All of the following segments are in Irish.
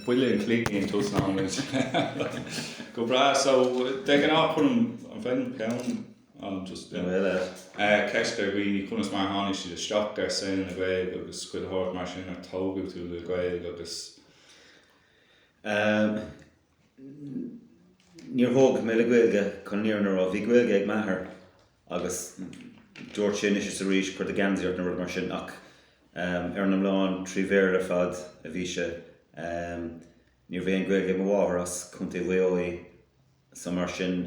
Buille an chloig í an t-óstán muid. Go breá. So, de ghnáth cuirim an ceist ar dhaoine, conas mar a tháinig siad isteach ar shaol na Gaeilge agus cur thart mar sin, ar tógadh tú le Gaeilge agus. Ehm, níor tógadh mé le Gaeilge, cé nach raibh. Bhí Gaeilge ag m'athair. agus dúirt sé anois is arís cuir do geansaí ort nó rud mar sin ach ar an iomlán trí Bhéarla ar fad a bhí sé. Ní raibh aon Gaeilge ag mo mháthair as Contae Mhaigh Eo í so mar sin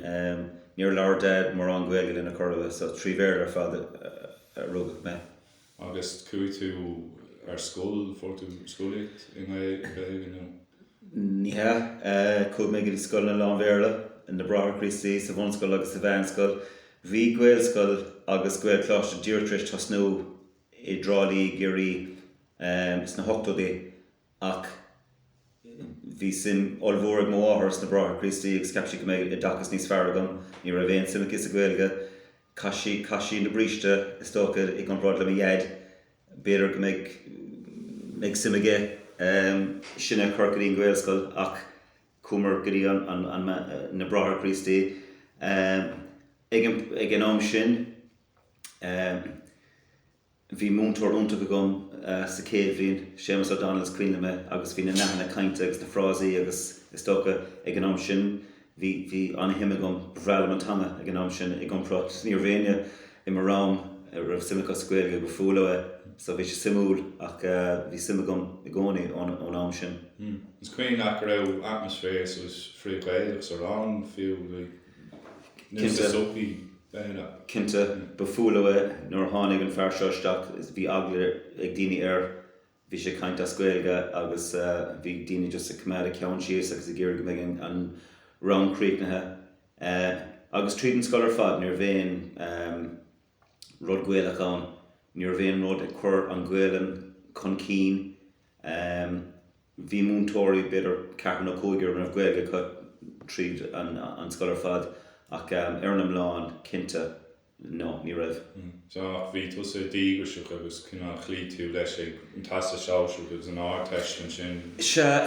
níor labhair Dad mórán Gaeilge linn ach corruair so trí Bhéarla ar fad a rugadh mé. Agus chuaigh tú ar scoil, fuair tú scolaíocht i nGaeilge nó? Ní hea. Chuaigh mé go scoileanna lán-Bhéarla, na Bráithre Críostaí sa bhunscoil agus sa mheánscoil. Bhí Gaelscoil agus Gaelcholáiste díreach tar éis tosnú i dTrá Lí i gCiarraí sna hochtóidí Ach bhí suim ollmhór ag mo mháthair sna Bráithre Críostaí agus cheap sí go mbeidh oideachas níos fearr agam. Ní raibh aon suim aici sa Ghaeilge. Chaith sí, chaith sí na bríste, is dócha, i gcomparáid le mo Dhaid. B'fhéidir go mbeidh, mbeidh suim aige sinn a chur go dtí an Ghaelscoil ach chuamar go dtí an, an, an, na Bráithre Críostaí. Ag an, ag an am sin, Bhí múinteoir iontach agam sa chéad bhliain, Séamus O'Donnell is cuimhne liom é agus bhí na nathanna cainte agus na frásaí agus is dócha ag an am sin bhí bhí ana-shuim agam, ba bhreá liom an teanga ag an am sin i gcomparáid, ní raibh éinne i mo rang a raibh suim acu sa Ghaeilge ba fuath leo é so bhí sé suimiúil ach bhí suim agam i gcónaí ón am sin. Is cuimhin leat go raibh atmaisféar suas frith-Ghaelach sa rang fiú, like? Cinnte. Ba fuath leo é. Nuair a tháinig an fear seo isteach bhí eagla ag daoine air, bhí sé ag caint as Gaeilge agus bhí daoine just ag coimeád a cheann síos agus ag iarraidh go mbeidh an rang críochnaithe agus tríd an scoil ar fad ní raibh aon rud Gaelach ann, ní raibh aon rud ag cur an Ghaolainn chun cinn. Bhí múinteoirí, b'fhéidir ceathrar nó cúigear a raibh Gaeilge acu tríd an scoil ar fad ach ar an iomlán, cinnte, no, ní raibh. Sea, ach bhí tusa díograiseach agus cineál chloígh tú leis ag an Teastas Sóisearach agus an Ardteist ansin. Sea,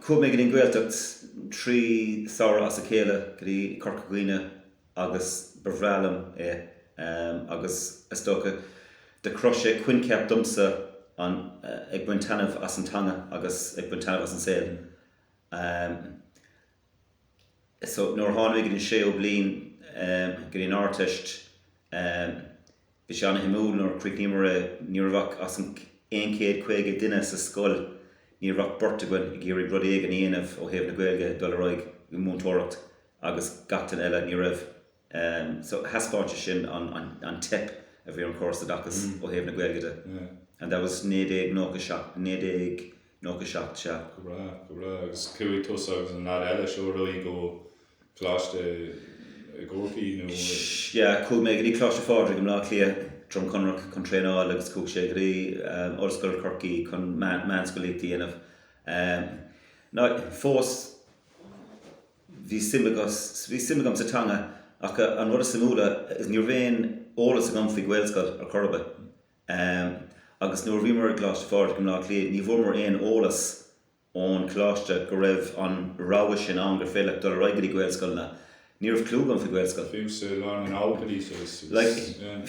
chuaigh mé go dtí an Ghaeltacht trí samhradh as a chéile, go dtí Corca Dhuibhne agus ba bhreá liom é agus is dócha do chruthaigh sé coincheap domsa an ag baint taitneamh as an teanga agus ag baint taitneamh as an saol so nuair a tháinig mé go dtí an séú bliain go dtí an Ardteist Bhí sé an-suimiúil nuair a chríochnaíomar é, ní raibh ach as an aon céad caoga duine sa scoil, ní raibh ach beirt againn ag iarraidh rud éigin a dhéanamh ó thaobh na Gaeilge ag dul ar aghaidh i múinteoireacht agus gach duine eile ní raibh so thaispeáin sé sin an teip a bhí ar an gcóras oideachais ó thaobh na Gaeilge de and that was naoi déag nócha seacht, naoi déag. Nócha seacht sea. Go breá, go breá. Agus chuaigh tusa agus an lad eile seo ar aghaidh go Coláiste i gCorcaigh nó? Sea, chuaigh mé go dtí Coláiste Phádraig i mBlá Cliath, Droim Conrach, chun traenáil agus chuaigh sé go dtí Ollscoil Chorcaí chun meánscolaíocht a dhéanamh. Fós, bhí suim bhí suim agam sa teanga ach an rud is suimiúla is, ní raibh aon eolas agam faoi Ghaelscoil ar chor ar bith. Um, agus nuair a bhíomar i gColáiste Phádraig i mBleá Cliath, ní bhfuaireamar aon eolas ón Choláiste go raibh an rogha sin ann, gur féidir leat dul ar aghaidh go dtí Gaelscoileanna. Ní raibh clú agam faoi Gaelscoil. Fiú sa lá na nóchaidí agus, yeah.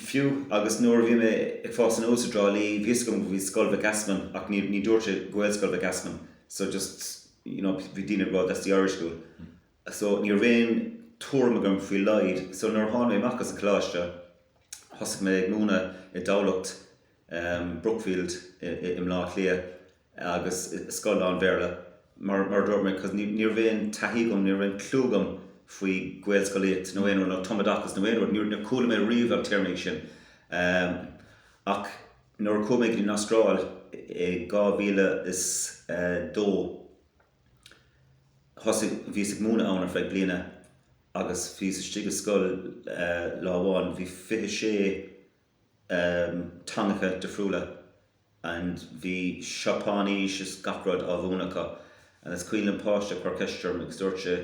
Fiú agus nuair a bhí mé ag fás aníos i dTrá Lí, bhí a fhios agam go bhí Scoil Mhic Easmainn ach ní, ní dúirt sé Gaelscoil Mhic Easmainn. So just, you know, bhí daoine ag rá that's the Irish school. so ní raibh aon tuairim agam faoi dá laghad so nuair a tháinig mé amach as an coláiste thosaigh mé ag múineadh i dTamhlacht, Brookfield i mBlá Cliath agus i scoil lán Bhéarla mar a dúirt mé cos ní raibh aon taithí agam, ní raibh aon chlú agam faoi Ghaelscolaíocht nó aon rud nó tumoideachas nó aon rud, níor chuala mé riamh na téarmaí sin ach nuair a chuaigh mé go dtí an Astráil i 2002. Thosaigh, bhíos ag múineadh ann ar feadh bliana agus bhíos istigh i scoil lá amháin, bhí fiche sé teangacha difriúla and bhí Seapáinís is gach rud á mhúineadh acu and is cuimhin liom páiste ag cur ceist orm agus dúirt sé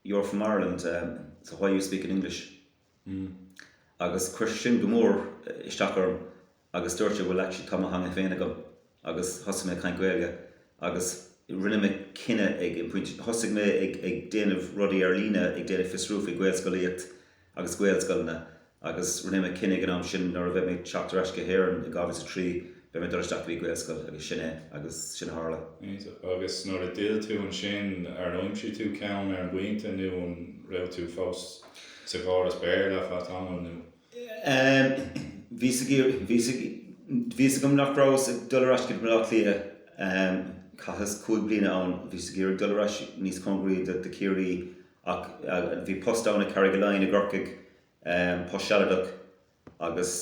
you're from Ireland so why are you speaking English? Agus chuir sin go mór isteach orm. agus dúirt mé bhuel actually tá mo theanga féin agam agus thosaigh mé ag caint Gaeilge agus rinne mé cinneadh ag an pointe, thosaigh mé ag, ag déanamh rudaí ar líne, ag déanamh fiosrú faoi Ghaelscolaíocht agus Gaelscoileanna agus rinne mé cinneadh ag an am sin nuair a bheidh mé ag teacht ar ais go hÉireann in 2003 beidh mé ag dul isteach go dtí Gaelscoil agus sin é agus sin a tharla. Agus nuair a d'fhill tú ansin, ar aimsigh tú ceann ar an bpointe nó an raibh tú fós sa gcóras Béarla ar feadh tamaill nó? Bhíos ag iarraidh, bhíos, bhíos, bhí a fhios agam nach rabhas ag dul ar ais go dtí Baile Átha Cliath. Chaitheas cúig bliana ann. Bhíos ag iarraidh dul ar ais níos cóngaraí do, do Chiarraí ach bhí post ann i Carrigaline i gCorcaigh, post sealadach agus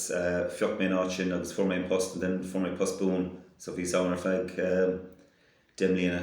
phioc mé an áit sin agus fuair mé an post and then fuair mé post buan so bhíos ann ar feadh deich mbliana.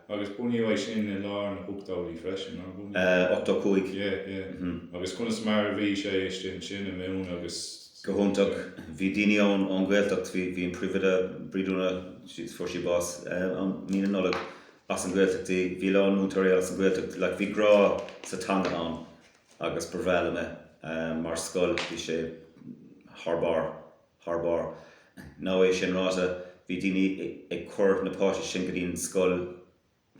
Agus bunaíodh é siar i lár na hochtóidí freisin, nár bhunaíodh? Ochtó cúig. Yeah, yeah. Agus conas mar a bhí sé istigh ansin i mbun agus. Go hiontach. Bhí daoine ann ón Ghaeltacht, bhí, bhí an Príomhoide, Bríd Úna, she's, fuair sí bás um mí na Nollag, as an Ghaeltacht di, bhí a lán múinteoirí eile as an Ghaeltacht, like bhí grá sa teanga ann agus ba bhreá liom é mar scoil, bhí sé thar barr. thar barr. Now é sin ráite, bhí daoine ag cur na páistí go dtí an scoil,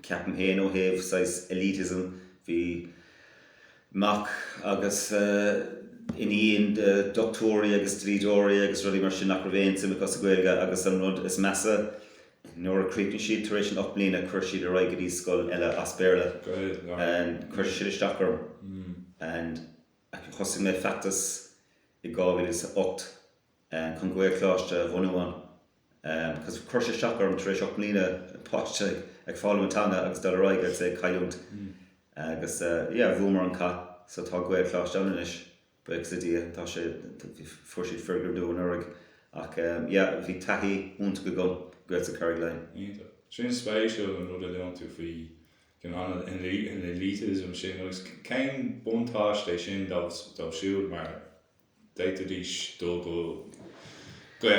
ceapaim féin, ó thaobh saghas elitism. Bhí mac agus iníon de dhoctúirí agus dlíodóirí agus rudaí mar sin nach raibh aon tsuim acu sa Ghaeilge agus an rud is measa, nuair a chríochnaigh siad tar éis an ocht mbliana chuir siad ar aghaidh go dtí scoil eile as Béarla. Chuir sé sin isteach orm. ach thosaigh mé feachtas i 2008 chun Gaelcholáiste a bhunú ann agus chuir sé isteach orm tar éis ocht mbliana páiste ag foghlaim an teanga agus dul ar aghaidh agus é a chailliúint agus yeah bhuamar an cath so tá Gaelcholáiste ann anois buíochas le Dia tá sé fuair siad foirgneamh nua anuraidh ach yeah bhí taithí iontach agam i nGaelscoil Charraig Uí Leighin. Iontach. Sin spéisiúil an rud a luann tú faoi an elitism sin agus cén buntáiste é sin dóibh siúd mar d'fhéadfaidís dul go, go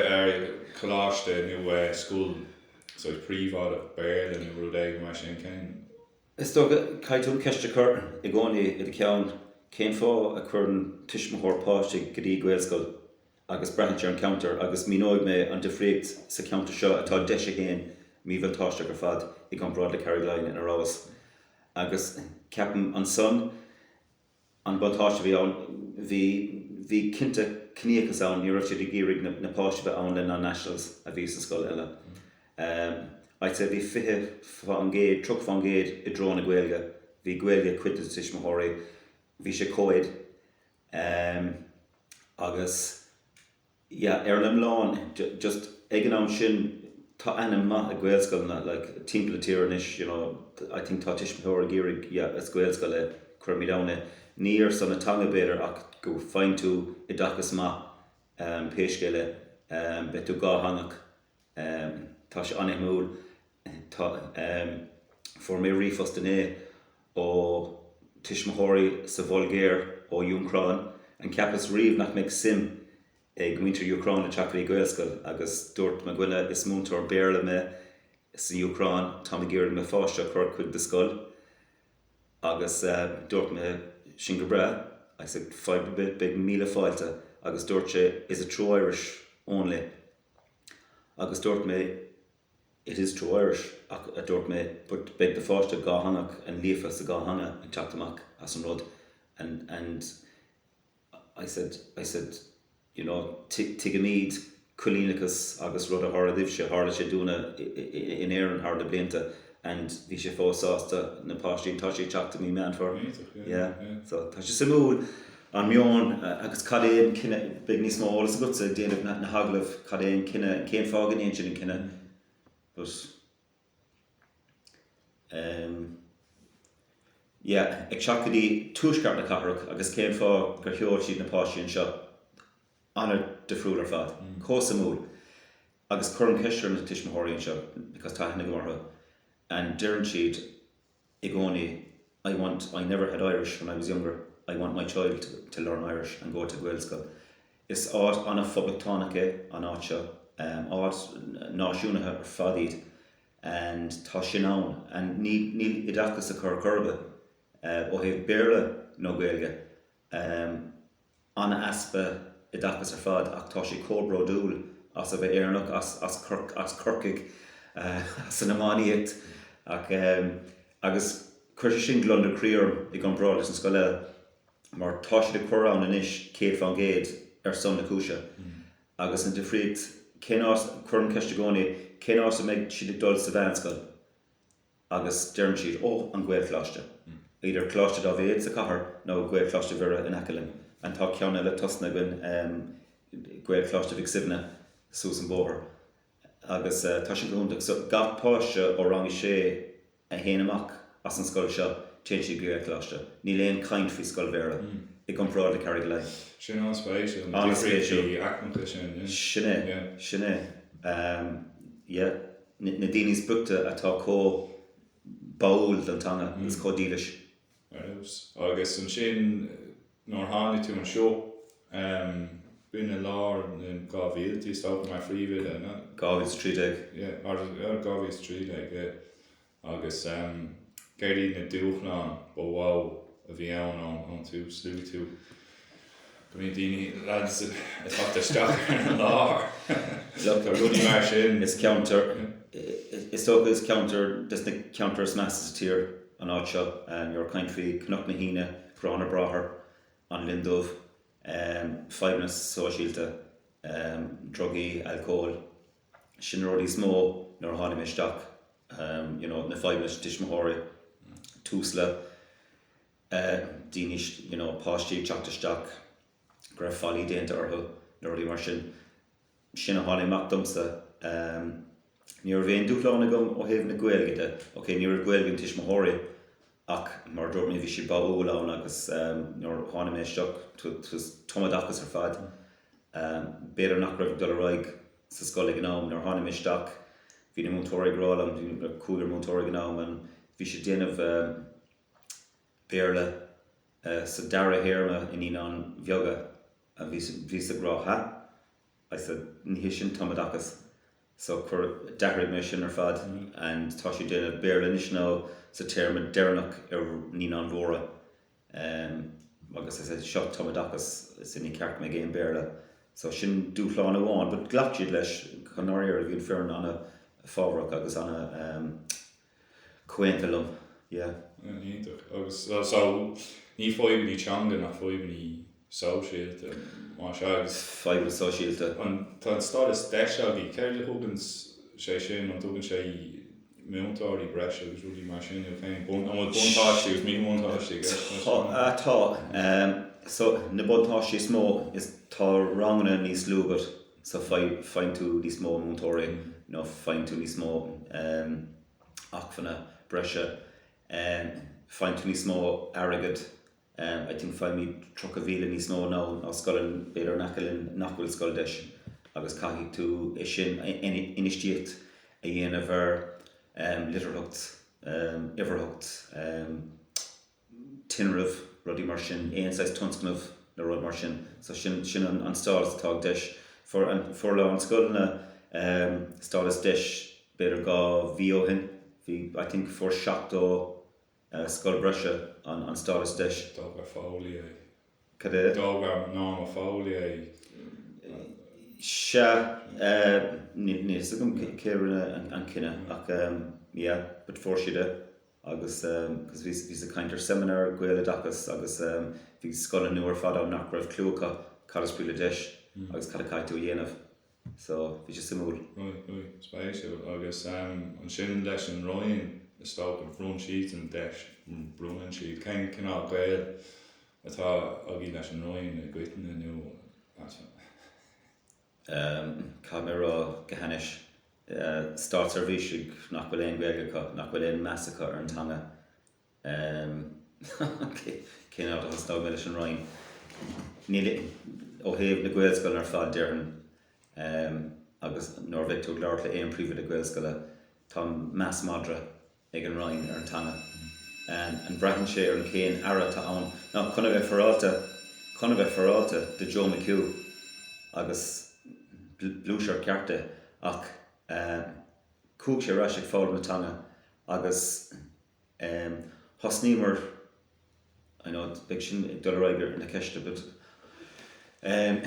coláiste nó scoil saghas príobháideach Béarla nó rud éigin mar sin, cén. Is dócha, caithfidh tú an cheist a chur i gcónaí i do cheann, cén fáth a chuireann tuismitheoir páiste go dtí Gaelscoil? agus braitheann sé ar an ceantar agus míneoidh mé an difríocht sa cheantar seo atá DEIS a haon míbhuntáisteach ar fad i gcomparáid le Carrigaline ina rabhas agus ceapaim ansan an buntáiste a bhí ann, bhí, bhí cinnte ciníochas ann, ní raibh siad ag iarraidh na, na páistí a bheith ann le non-nationals a bhí sa scoil eile. Eh, I'd say bhí fiche fán gcéad, tríocha fán gcéad i dtreo na Gaeilge, bhí Gaeilge ag cuid de na tuismitheoirí, bhí sé co-ed, Em. Agus, yeah, ar an iomlán, just ag an am sin, tá ainm mhaith ag Gaelscoileanna, like, timpeall na tíre anois, you know, I think tá tuismitheoir ag iarraidh, yeah, is Gaelscoil í, cuirimid ann é. Ní ar son na teanga, b'fhéidir, ach go bhfaigheann tú oideachas maith, em, pé scéal é, em, beidh tú dhátheangach. Tá sé an-suimiúil. Fuair mé ríomhphost inné ó tuismitheoirí sa Bhulgáir, ón Úcráin. And cheapas riamh nach mbeadh suim ag muintir Úcráin le teacht go dtí Gaelscoil? Agus dúirt mo dhuine, is múinteoir Béarla mé san Úcráin, táim ag iarraidh mo pháiste a chur chuig do scoil. Agus dúirt mé, sin go breá. I said, fadhb ar bith, beidh míle fáilte. Agus dúirt sé, is it true Irish only? Agus dúirt mé, It is true Irish, ach, a dúirt mé, but beidh do pháiste dátheangach and líofa sa dá theanga ag teacht amach as an rud and, and I said, I said, you know, tuigimid coilíneachas agus rud a tharla daoibhse, tharla sé dúinne in Éirinn thar na blianta and bhí sé fós sásta na páistí and tá sé ag teacht i mí Meán Fómhair, yeah, so tá sé suimiúil. an meon agus cad é an cinneadh, beidh níos mó eolas agatsa ag déanamh na n-agallamh cad é an cinneadh, cén fáth go ndéanann siad an cinneadh but ehm yeah ag teacht go dtí tuaisceart na cathrach agus cén fáth gur sheol siad na páistí anseo an-difriúil ar fad, chomh suimiúil agus cuirim ceist ar na tuismitheoirí anseo because tá aithne agam orthu and deireann siad. i gcónaí I want, I never had Irish when I was younger, I want my child to to learn Irish and go to Gaelscoil. Is áit an-phoblachtánach é an áit seo, áit náisiúnaithe ar fad é and tá sin ann and níl oideachas acu in aon chor ó thaobh Béarla nó Gaeilge. Um an-easpa oideachais ar fad ach tá sé chomh bródúil as a bheith Éireannach, as as Corcaigh, as an iománaíocht ach ehm agus chuir sé sin gliondar croí orm i gcomparáid leis an scoil eile mar tá siad ag cur an anois céad fán gcéad ar son na cúise agus an difríocht cén áit, cuirim ceist i gcónaí, cén áit a mbeidh siad ag dul sa mheánscoil? agus deireann siad, Ó, an Ghaelcholáiste. Either Coláiste Daibhéid sa Chathair nó Gaelcholáiste Mhuire in aice linn. And tá ceann eile tosnaithe againn, em, Gaelcholáiste Mhic Suibhne suas an bóthar. Agus, eh, tá sin go hiontach. So, gach páiste ó rang a sé a théann amach as an scoil seo, téann siad go Gaelcholáiste. Níl aon chaint faoi scoil Bhéarla i gcomparáid le Carraig Uí Leighin. Sin an-spéisiúil, na difríochtaí aicmeacha sin, yeah. Sin é, sin é. Em, yeah. na daoine is boichte atá chomh báúil don teanga agus chomh dílis. Agus ansin nuair a tháinig tú anseo. B'in i lár na 2000idí is dócha, mar phríomhoide, an ea? 2013. Yeah, or 2013, yeah. Agus céard iad na dúshláin ba mhó a bhí ann ón tús? Luaigh tú. go mbíonn daoine leat ag teacht isteach ar an láthair. Tá rudaí mar sin. Is ceantar, is dócha, is ceantar des na ceantair is measa sa tír an áit seo. Nuair ag caint faoi Cnoc na hAoine, Garrán na mBráthar, An Linn Dubh, fadhbanna sóisialta, drugaí, alcól, sin na rudaí is mó nuair a tháinig mé isteach, you know, na fadhbanna tuismitheoirí, Tusla. daoine, you know páistí ag teacht isteach go raibh faillí déanta orthu nó rudaí mar sin. Sin a tháinig amach domsa. Ní raibh aon dúshlán agam ó thaobh na Gaeilge de. Okay, ní raibh Gaeilge an tuismitheoirí ach mar a dúirt mé bhí sé báúil ann agus nuair a tháinig mé isteach it was tumoideachas ar fad. B'fhéidir nach raibh ag dul ar aghaidh sa scoil ag an am. Nuair a tháinig mé isteach bhí na múinteoirí ag rá liom, bhí cúigear múinteoirí ag an am and bhí siad ag déanamh, Béarla sa dara théarma i naíonáin bheaga a bhí sa gcruth a. I said, ní hé sin tumoideachas. So, chuir, d'athraigh mé sin ar fad and tá sé déanamh Béarla anois now sa téarma deireanach ar naíonáin mhóra um agus I said, seo tumoideachas, so ní ceart go mbeidh aon Béarla. So sin dúshlán amháin but ghlac siad leis. Chun a bheith fair, bhí an foireann ana-fhabhrach agus ana um. Comhaontaithe liom, yeah. Iontach. Agus so, ní fadhbannaí teanga ach fadhbannaí sóisialta, más ea, agus. Fadhbanna sóisialta. An, tá an stádas deis agaí, céard a thugann sé sin, an dtugann sé múinteoirí breise agus rudaí mar sin daoibh féin, bun, an bhfuil buntáistí agus míbhuntáistí ag gabháil leis an. Tá, tá. So, na buntáistí is mó is tá ranganna níos lú agat so faigheann tú níos mó múinteoirí nó faigheann tú níos mó acmhainní breise faigheann tú níos mó airgead I think faighimid tríocha mhíle níos mó now ná scoileanna b'fhéidir in aice linn nach bhfuil scoil deis agus caithfidh tú é sin infheistíocht a dhéanamh ar litearthacht, uimhearthacht. tinreamh, rudaí mar sin, aon saghas tionscnamh nó rud mar sin. So sin, sin an, an stádas atá ag deis. Fuair an, fuair a lán scoileanna ehm stádas deis b'fhéidir dhá mhí ó shin, bhí, I think fuair seachtó eh scoil breise an, an stádas deis. D'fhógair Foley é. Cad é? D'fhógair Norma Foley é eh. Sea, eh níl, níl 'fhios agam cé, cé a rinne an, an cinneadh ach ehm yeah but fuair siad é. agus bhíos ag caint ar seimineár Gaeloideachas agus bhí scoileanna nua ar fad ann nach raibh clue acu cad is brí le deis agus cad a caithfidh tú a dhéanamh so bhí sé suimiúil. Spéisiúil. Agus ansin leis an Roinn is dócha bhronn siad an deis, bronnann siad, cén cineál gaol atá agaibh leis an Roinn i gcoitinne nó? caithfidh mé a rá go hainnis, státseirbhísigh nach bhfuil aon Ghaeilge acu, nach bhfuil aon mheas acu ar an teanga, cén áit a thosnóidh mé leis an Roinn? Níl, ó thaobh na Gaelscoileanna ar fad déarfainn é agus nuair a bheidh tú ag labhairt le aon príomhoide Gaelscoile, tá meas madra ag an Roinn ar an teanga. An bhraitheann sé ar an cén aire atá ann? Chun a bheith féaráilte, chun a bheith féaráilte do Joe McHugh agus bhuail Ciara leis ach chuaigh sé ar ais ag foghlaim na teanga agus thosnaíomar I know it, beidh sin ag dul ar aghaidh ón gceist a bit. Um,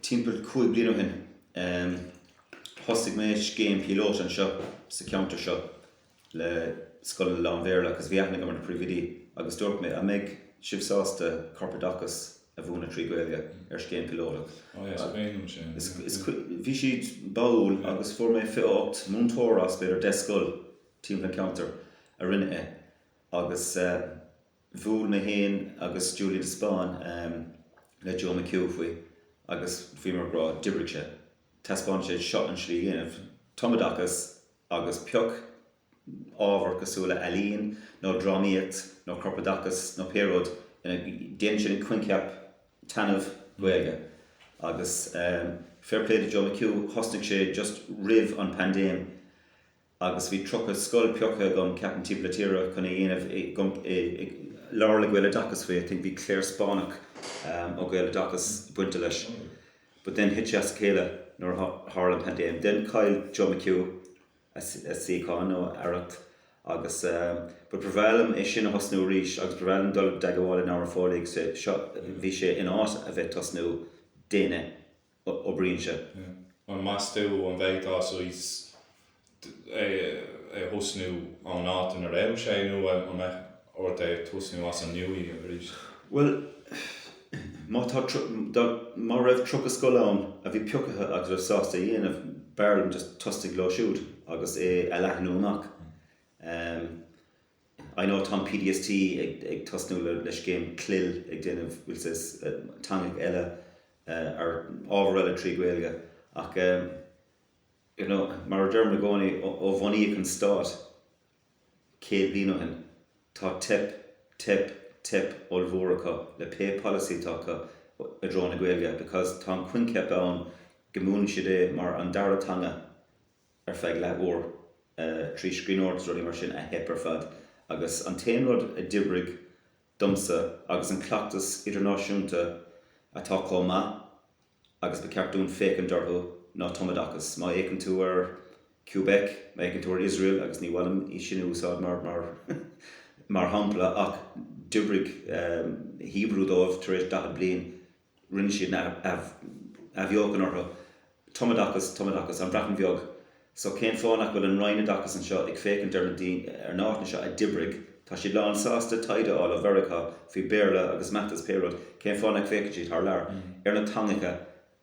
timpeall cúig bliain ó shin, um, thosaigh mé scéim píolótach anseo sa ceantar seo le scoileanna lán-Bhéarla agus bhí aithne agam ar na príomhoidí agus dúirt mé, an mbeidh sibh sásta corpoideachas a mhúineadh trí Ghaeilge ar scéim píolótach? Oh yeah, so bhí sin. Is, yeah, is, yeah. Bhí siad báúil yeah. agus fuair mé 28 múinteoir as b'fhéidir 10 scoil timpeall an ceantar a rinne é. agus bhuail mé féin agus Julian de Spáinn le Joe McHugh faoi agus bhí muid ag rá, d'oibrigh sé. Taispeánann sé seo an tslí a dhéanamh tumoideachas agus pioc ábhar cosúil le ealaín nó drámaíocht nó corpoideachas nó pé rud ina ndéantar sin, an coincheap tumadh Gaeilge agus fair play to Joe McHugh thosnaigh sé just roimh an paindéim agus bhí tríocha scoil pioctha aige, ceapaim, timpeall na tíre chun é a dhéanamh i leith le Gaeloideachas faoi, I think, bhí Clare Spáinneach ó Gaeloideachas bainteach leis but then thit sé as a chéile nuair a tharla an pandéim then chaill Joe McHugh a suíochán nó a Aireacht agus but ba bhreá liom é sin a thosnú arís agus ba bhreá liom dul i dteagmháil le Norma Foley agus b'fhéidir in áit a bheith ag tosnú, daoine a oibríonn sé. An meas tú an bhféadfá saghas é a thosnú ón áit ina raibh sé nó an mbeadh ort é a thosnú as an nua aríst? Bhuel, má tá, dá, má raibh tríocha scoil ann a bhí piocaithe agus a raibh sásta a dhéanamh, b'fhearr liom just tosnaigh leo siúd agus é a leathnú amach. I know tá an PDST ag ag tosnú le le scéim clil ag déanamh bhfuil sé is teangacha eile ar ábhar eile trí Gaeilge ach ehm you know mar a deirim i gcónaí ó ó bunaíodh an stát céad bliain ó shin tá teip teip teip ollmhór acu le pé polasaí atá acu i dtreo na Gaeilge because tá an coincheap ann go múineann siad é mar an dara teanga ar feadh leath uair trí scríbhneoireacht agus rudaí mar sin a theip ar fad agus an t-aon rud a d'oibrigh domsa agus an cleachtas idirnáisiúnta atá chomh maith agus ba cheart dúinn féachaint orthu ná tumoideachas. Má fhéacann tú ar Québec, má fhéacann tú ar Iosrael agus ní maith liom í sin a úsáid mar mar shampla ach d'oibrigh Hebrew dóibh tar éis 40 bliain, rinne siad an athbheochan orthu, tumoideachas, tumoideachas, An Bhreatain Bheag, so cén fáth nach bhfuil an Roinn Oideachais anseo ag féachaint ar na ar na áiteanna seo a d'oibrigh, tá siad lán sásta taighde a fháil ó Mheiriceá faoi Béarla agus Maths agus pé rud, cén fáth nach bhféachann siad thar lear, ar na teangacha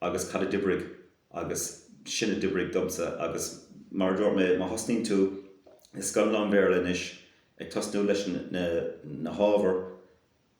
agus cad a d'oibrigh agus sin a d'oibrigh domsa agus mar a dúirt mé, má thosnaíonn tú i scoil lán-Bhéarla anois, ag tosnú leis na na hábhair,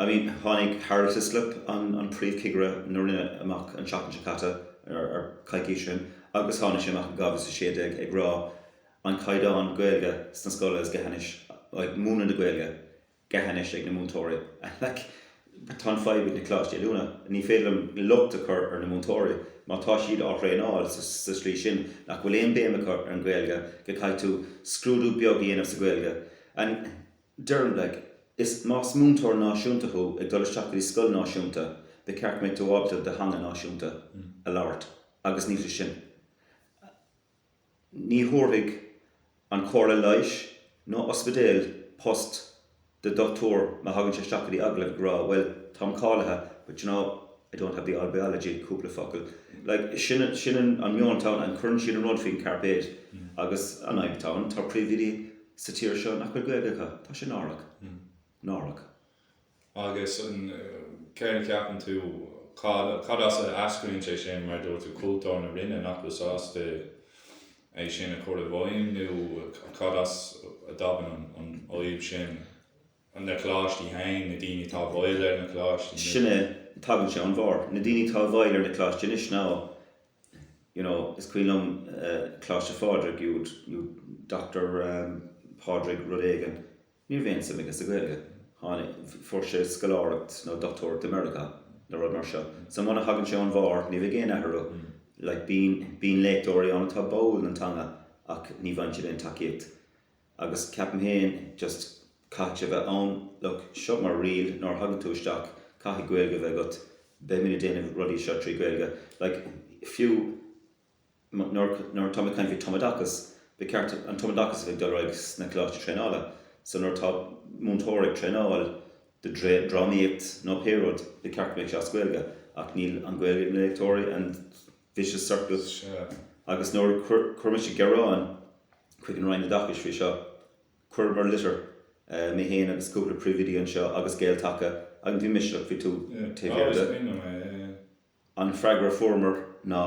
I mean, tháinig Harold Hislop, an Príomhchigire na Roinne, amach an tseachtain seo caite, nó coicís ó shin, agus tháinig sé amach in 2016 ag rá an caighdeán Gaeilge sna scoileanna, like múineadh na Gaeilge gthe anois ag na múinteoirí. And like tá an fadhb ag na coláistí oiliúna, ní féidir liom locht a chur ar na múinteoirí má tá siad á dtraenáil sa slí sin nach bhfuil aon béim acu ar an Ghaeilge, go gcaithfidh tú scrúdú beag a dhéanamh sa Ghaeilge and. Deirim leat, is más múinteoir náisiúnta thú ag dul isteach go dtí scoil náisiúnta, ba cheart go mbeadh tú ábalta do theanga náisiúnta a labhairt agus níl sé sin. Ní thabharfadh an chomhairle leighis nó ospidéal post do dhochtúir má thagann sé isteach go dtí agallamh ag rá, bhuel, táim cáilithe but you know, I don't have the old biology cúpla focal. Like, sin, sin an meon atá ann and cuireann siad an rud faoin chairpéid agus an fhadhb atá ann, tá príomhoidí sa tír seo nach bhfuil Gaeilge acu. Tá sé náireach. Náireach. Agus céard a cheapann tú, cad as a eascraíonn sé sin, mar a dúirt tú, cultúr na Roinne nach bhfuil sásta é sin a chur i bhfeidhm nó cad as a dtagann an fhadhb sin? an na coláistí féin, na daoine atá i bhfeighil ar na coláistí, nó. Sin é, tagann sé ón bharr. Na daoine atá i bhfeighil ar na coláistí anois ná, you know, is cuimhin liom Coláiste Phádraig, you would, you would, Doctor Pádraig rud éigin, ní raibh aon suim aige sa Ghaeilge, tháinig, fuair sé scoláireacht nó dochtúireacht i Meiriceá nó rud mar seo. So muna thagann sé ón bharr, ní bheidh aon athrú. Like, bíonn, bíonn léachtóirí ann atá báúil don teanga ach ní bhfaigheann siad aon tacaíocht. Agus ceapaim féin, just, caithfidh sé bheith ann, look, seo mar riail, nuair a thagann tú isteach, caithfidh Gaeilge a bheith agat, beidh muid ag déanamh rudaí seo trí Gaeilge, like, fiú nuair, nuair atá mé ag caint faoi tumoideachas, ba cheart an tumoideachas a bheith ag dul ar aghaidh sna coláistí traenála, so nuair atá múinteoir ag traenáil do dhrámaíocht nó pé rud, ba cheart go mbeadh sé as Gaeilge, ach níl an Ghaeilge ag na léachtóirí and. vicious circle, agus nuair a chuir mise gearán chuig an Roinn Oideachais faoi seo, chuireamar litir, mé féin agus cúpla príomhoidí anseo agus Gael-Taca, agus bhí mise faoi taobh thiar de. An freagra a fuaireamar ná,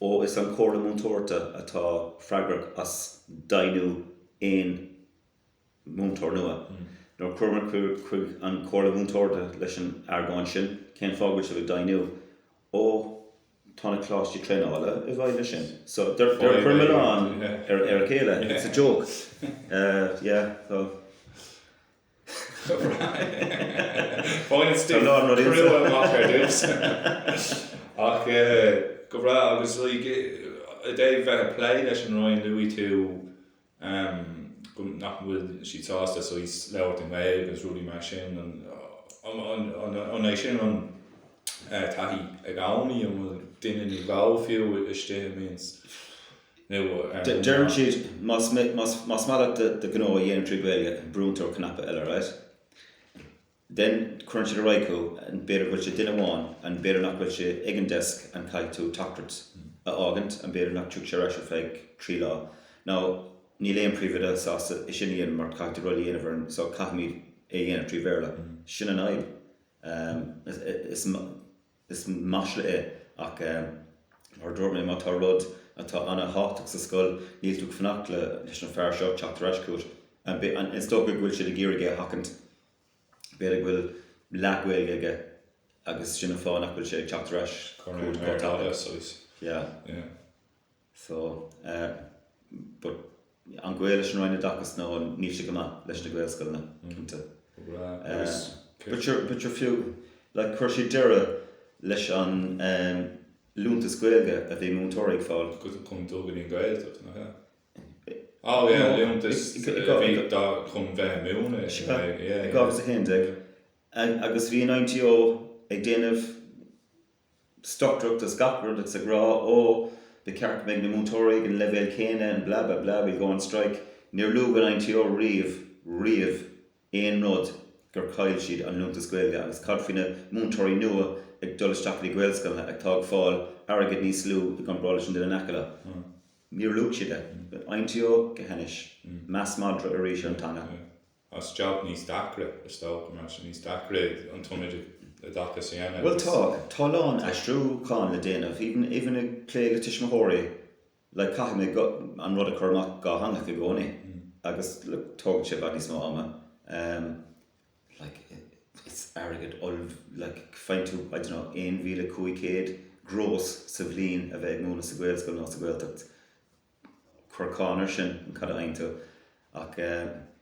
Ó is an Chomhairle Múinteoireachta atá freagrach as deimhniú aon. múinteoir nua. Nuair a chuamar chuig an Chomhairle Mhúinteoireachta leis an argóint sin, cén fáth go bhfuil sibh ag deimhniú? Ó, tá na coláistí traenála i bhfeighil air sin. So, they're ag cur an milleán ar a chéile, it's a joke. Yeah, so. Baineann stuif chrua amach ar dtús. Ach, go breá, agus i dtaobh bheith ag plé leis an Roinn, luaigh tú. amh go, nach bhfuil siad sásta saghas labhairt i nGaeilg agus rudaí mar sin, an, an, an é sin an taithí agaibh nó, an bhfuil duine nó dhó fiú istigh i Means nó ar an Deireann siad más, más, más maith leat do, do ghnó a dhéanamh trí Ghaeilge brúnn tú ar cnaipe eile, right? then cuireann siad ar aghaidh thú and b'fhéidir go bhfuil sé duine amháin and b'fhéidir nach bhfuil sé ag an desk and caithfidh tú teachtaireacht a fhágaint and b'fhéidir nach dtiocfaidh sé ar ais ar feadh trí lá now níl aon príomhoide sásta é sin a dhéanamh mar caithfidh tú rud a dhéanamh ar an so caithfimid é a dhéanamh trí Bhéarla sin an fhadhb is Is masla é. Ach, mar a dúirt mé, má tá rud atá an-tábhachtach sa scoil, níl tú ag fanacht leis an fear seo teacht ar ais chugat. Is dócha go bhfuil siad ag iarraidh é a sheachaint. B'fhéidir go bhfuil leath-Ghaeilge aige agus sin an fáth nach bhfuil sé ag teacht ar ais chugat chomh tapaidh. Yeah. So, eh, but an gaol leis an Roinn Oideachais nó níl sé go maith leis na Gaelscoileanna, cinnte. Eh, but sure, but sure fiú, like chuir siad deireadh leis an, em, liúntas Gaeilge a bhí múinteoirí ag fáil. Go dtí go dtí an Ghaeltacht, nach ea? Oh, yeah, no, liúntas a bhí dóibh chun bheith ag múineadh. I dhá mhíle is a haon déag. Agus bhí an INTO ag déanamh stocaireacht is gach rud agus ag rá 'Ó, ba cheart go mbeidh na múinteoirí ag an leibhéal céanna and blah, blah, blah, we'll go on strike'. Níor luaigh an INTO riamh, riamh, aon rud gur chaill siad an liúntas Gaeilge agus cad faoi na múinteoirí nua ag dul isteach go dtí Gaelscoileanna atá ag fáil airgead níos lú i gcomparáid leis an duine in aice leo? Níor luaigh siad é. INTO, go hainnis. Meas madra arís ar an teanga. as jab níos deacra, a stout match, níos deacra an t-ionad i dtaca sin agus. Bhuel tá, tá a lán aistriúchán le déanamh, even, even ag plé le tuismitheoirí, like caithfidh mé go, an rud a chur amach go dátheangach i gcónaí agus look tógann sé i bhfad níos mó ama, em, like it's airgead ollmh, like faigheann tú, I dunno, aon mhíle cúig chéad gross sa bhliain a bheith ag múineadh sa Ghaelscoil nó sa Ghaeltacht. cuir cáin air sin, and cad a fhaigheann tú ach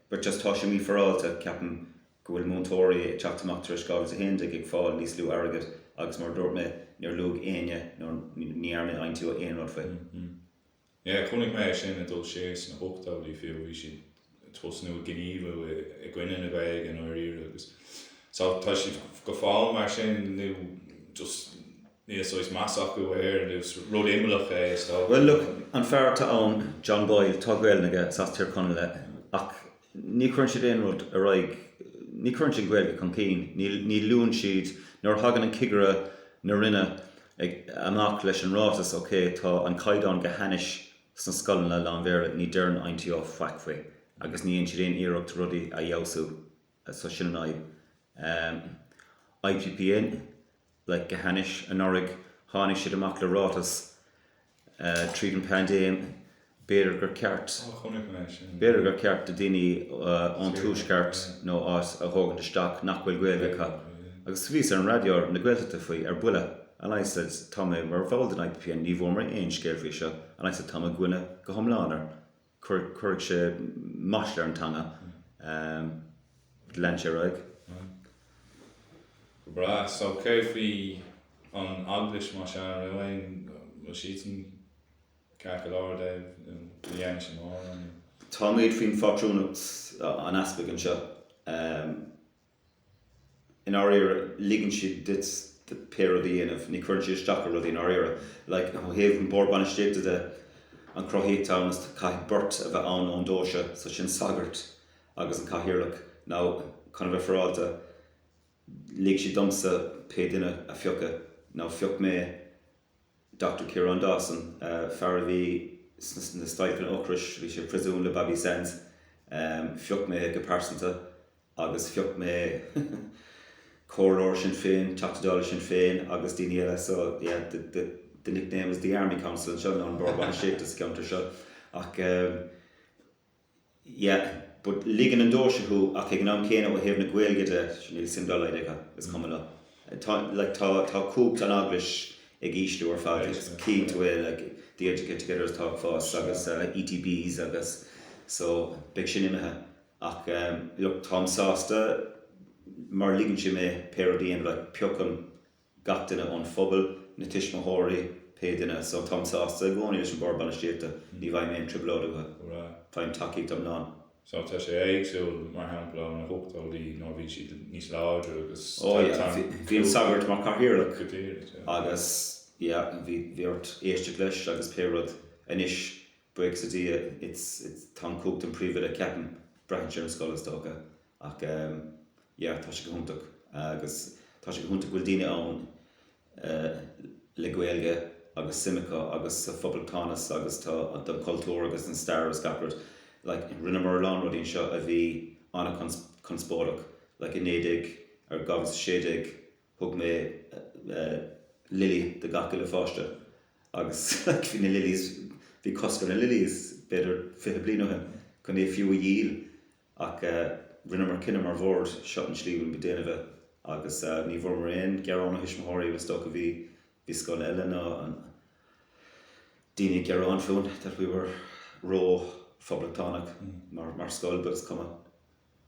but just tá sé mífhearáilte, ceapaim go bhfuil múinteoirí ag teacht amach tar éis 2011 ag fáil níos lú airgead agus mar a dúirt mé níor luaigh éinne nó ní dhearna an INTO aon rud faoi. Yeah, chonaic mé é sin ag dul siar sna hochtóidí fiú, bhí siad. tosnú ag gníomhú i gcoinne na Gaeilge i ndáiríre agus tá siad go fóill mar sin nó just níl saghas meas acu air nó is rud imeallach é is dócha. Bhuel look, an fear atá ann, John Boyle, tá Gaolainn aige, is as Tír Chonaill é, ach ní chuireann siad aon rud ar aghaidh, ní chuireann siad an Ghaeilge chun cinn, ní luann siad, nuair a thagann an cigire na Roinne amach leis an ráiteas, ok, tá an caighdeán go hainnis, Sna scoileanna lán-Bhéarla ní deireann INTO faic faoi agus ní dhéann siad aon iarracht rudaí a fheabhsú so sin an fhadhb. IPPN, like, go hainnis. Anuraidh tháinig siad amach le ráiteas tríd an paindéim, b'fhéidir gur ceart, Oh, chonaic mé sin. b'fhéidir gur ceart do dhaoine ón Tuaisceart nó áit a thógaint isteach nach bhfuil Gaeilge acu. Agus bhíos ar an raidió na Gaeltachta faoi, ar buile. And I said, Tá mé mar bhall den IPPN, ní bhfuair mé aon scéal faoi seo. And I said, Tá mé i gcoinne go hiomlán air. Cuirfidh sé masla ar an teanga. Leanfaidh sé ar aghaidh. Go breá. So cé faoi an Eaglais, más ea, an raibh siadsan ceart go leor, Dave, nó ní dhearna sé mórán, nó? Táimid faoin phátrúnacht an Easpaig anseo. i ndáiríre, ligeann siad duit pé rud a dhéanamh, ní chuireann siad isteach ar rudaí i ndáiríre. Like, ó thaobh an Bord Bainistíochta de, an chruthaíocht ann is caithfidh beirt a bheith ann ón deoise so sin sagart agus an cathaoirleach. Now, chun a bheith faireáilte, lig siad domsa pé duine a phiocadh. Now, phioc mé Dochtúir Ciarán Dawson, fear a bhí sna stailceanna ocrais, bhí sé i bpriosún le Bobby Sands, phioc mé é go pearsanta. agus phioc mé comhairleoir Sinn Féin, Teachta Dála Sinn Féin agus daoine eile so yeah the the the nickname is the Army Council anseo nó an Bord Bainistíochta sa cheantar seo ach ehm yeah but ligeann an deoise thú ach ag an am céanna ó thaobh na Gaeilge de níl suim dá laghad acu, is cuma leo. Tá like tá tá cumhacht an eaglais ag ísliú ar fad agus cífidh tú é like the Educate Together is tá ag fás agus ETBs agus so beidh sin imithe. Ach look, táim sásta, mar ligeann sé mé pé rud a dhéanamh, piocaim gach duine ón phobal, na tuismitheoirí, pé duine, so táim sásta i gcónaí leis an Bord Bainistíochta, ní bhfaighim aon trioblóid uathu. Faighim tacaíocht iomlán. So tá sé éagsúil, mar shampla, ó na hOchtóidí, nuair a bhí siad níos láidre agus tá an cúlra. Ó, yeah, bhí an sagart mar Cathaoirleach. Go díreach, yeah. Agus, yeah, bhí ort éisteacht leis agus pé rud anois Breaks a Dhia, it's, it's, tá an coach den príomhoide, ceapaim, braitheann sé ar do scoil is dócha ach yeah tá sé go hiontach agus tá sé go hiontach go bhfuil daoine ann le Gaeilge agus suim acu agus sa phoblachtánachas agus don chultúr agus don stair agus gach rud like rinneamar a lán rudaí anseo a bhí an-chonspóideach like i naoi déag, ar, dhá mhíle a sé déag, Thug mé lily do gach uile pháiste agus bhí na lilies, bhí cosc ar na lilies b'fhéidir fiche bliain ó shin chun iad fiú a dhíol ach rinneamar cinneadh mar bhord, seo an tslí a bhfuilimid ag déanamh é agus ní bhfuaireamar aon ghearán ó thuismitheoirí agus is dócha bhí, bhí scoileanna, daoine ag gearán fúinn go rabhamar ró-phoblachtánach mar scoil but is cuma.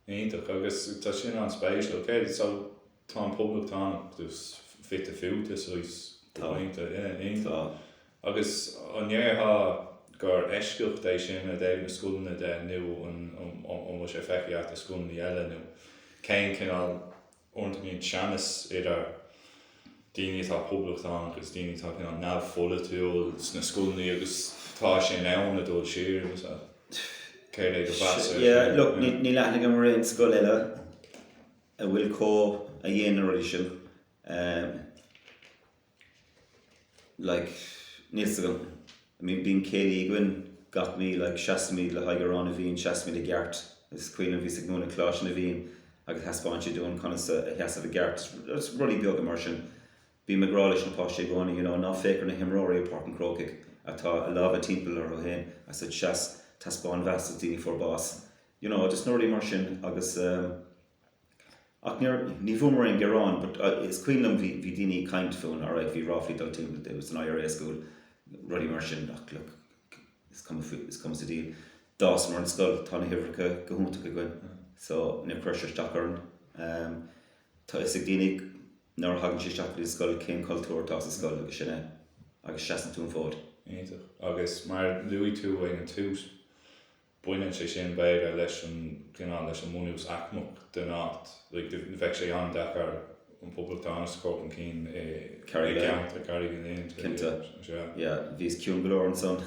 Iontach, agus tá sin an-spéisiúil. Okay, so, tá an poblachtánachas just fite fuaite saghas Tá. Yeah, iontach. Tá. Agus an ndéarfá gur eisceacht é sin ó thaobh na scoileanna de nó an, an, an bhfuil sé feicthe agat i scoileanna eile nó cén cineál, uaireanta go mbíonn teannas idir daoine atá poblachtánach agus daoine atá cineál neamhpholaitiúil sna scoileanna agus tá sé in ann a dhul siar agus a. céard é do mheas air sin? Look, níl aithne agam ar aon scoil eile a bhfuil comh, a dhéanann na rudaí sin. like níl 's agam I mean bíonn céilí againn gach mí like seasaimid le haghaidh Amhrán na bhFiann seasaimid i gceart is cuimhin liom bhíos sna Cláirsí na bhFiann agus thaispeáin siad dúinn conas a sheasamh i gceart is rudaí beaga mar sin bím ag rá leis na páistí i gcónaí you know ná féach ar na himreoirí i bPáirc an Chrócaigh atá a lámha timpeall orthu féin seas taispeáin meas do daoine a fuair bás you know just na rudaí mar sin agus ehm Ach nuair, ní bhfuaireamar aon gearán but is cuimhin liom bhí, bhí daoine ag caint fúinn alright, bhí ráflaí dul timpeall that it was an IRA school, rudaí mar sin ach look, is cuma faoi, is cuma sa diabhal, d'fhásamar an scoil, tá na huimhreacha go hiontach againn so níor chuir sé isteach orainn. Tá 'fhios ag daoine nuair a thagann siad isteach go dtí an scoil cén cultúr atá sa scoil agus sin é agus seasann tú an fód. Iontach. Agus mar a luaigh tú ag an tús, Baineann sé sin, b'fhéidir, leis an gcineál, leis an mbunús aicmeach den áit. Bheadh sé an-deacair an poblachtánachas a chur chun cinn i gCarraig Uí Leighin, cinnte. Yeah, bhíos ciúin go leor ansan.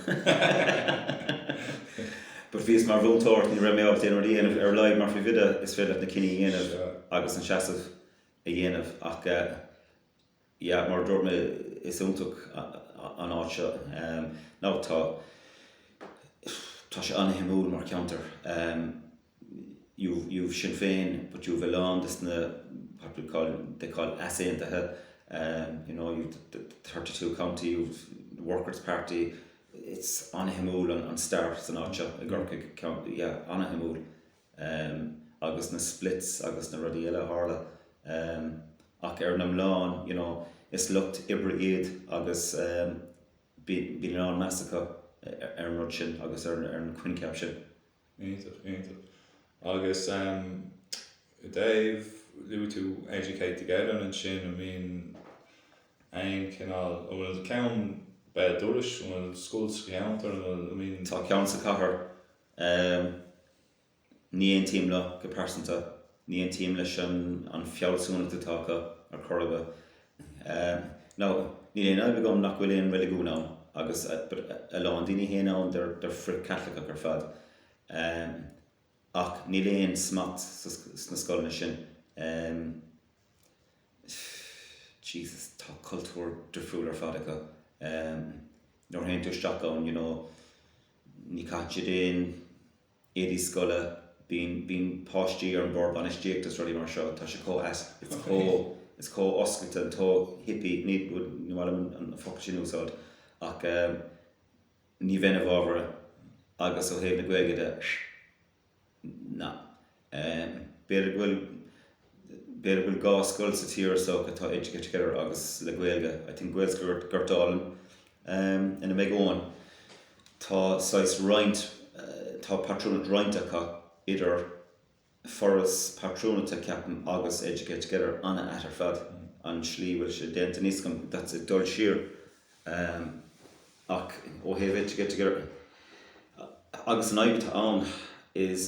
But bhíos mar mhúinteoir ach ní raibh mé ábalta aon rud a dhéanamh, ar a laghad mar phríomhoide is féidir leat na cinní a dhéanamh agus an seasamh a dhéanamh ach eh, yeah mar a dúirt mé is iontach an áit seo nó tá tá sé an-shuimiúil mar cheantar you've you've Sinn Féin but you've a lán de na they call easaontaithe you know you've the thirty two county you've the Workers' Party it's an-shuimiúil an stair san áit seo i gCorcaigh yeah an-shuimiúil. Em. agus na splits agus na rudaí eile a tharla. Em. ach ar an iomlán, you know, is lucht oibre iad agus, em. bíonn a lán meas acu ar an rud sin agus ar an choincheap sin. Iontach, iontach. Agus, em. ó thaobh, luaigh tú Educate Together ansin, an mbíonn aon chineál, an bhfuil ceann, b'fhéidir, Dúrois, an bhfuil scoil sa gceantar, an bhfuil, an mbíonn? Tá ceann sa chathair, Ehm. ní aontaím leo go pearsanta. ní aontaím leis an fealsúnacht atá acu ar chor ar bith. Ehm. now, níl aon fhadhb agam nach bhfuil aon reiligiún ann agus. but a lán daoine a théann ann they're frith-Caitliceach ar fad. Ehm. ach níl aon smacht sna scoileanna sin. Ehm. pfft. jesus, tá cultúr difriúil ar fad acu. Ehm. nuair a théann tú isteach ann, you know. Ní chaitear aon éadaí scoile, bíonn páistí ar an mBord Bainistíochta is rudaí mar seo, tá sé chomh is chomh oscailte and too hippie, ní maith liom an focal sin a úsáid ach ní bheinn i bhfabhar agus ó thaobh na Gaeilge de, na. B'fhéidir go bhfuil. B'fhéidir go bhfuil dhá scoil sa tír so atá Educate Together agus le Gaeilge, I think Gaelscoil Gort Álainn ina mbeidh Eoghan. Tá saghas roinnt, tá patrúnacht roinnt acu idir Foras Patrúnachta ceapaim agus Educate Together an-ait ar fad an tslí bhfuil sé déanta aníos agam, that's it dul siar. Um ach ó thaobh it, it, it, agus an fhadhb atá ann is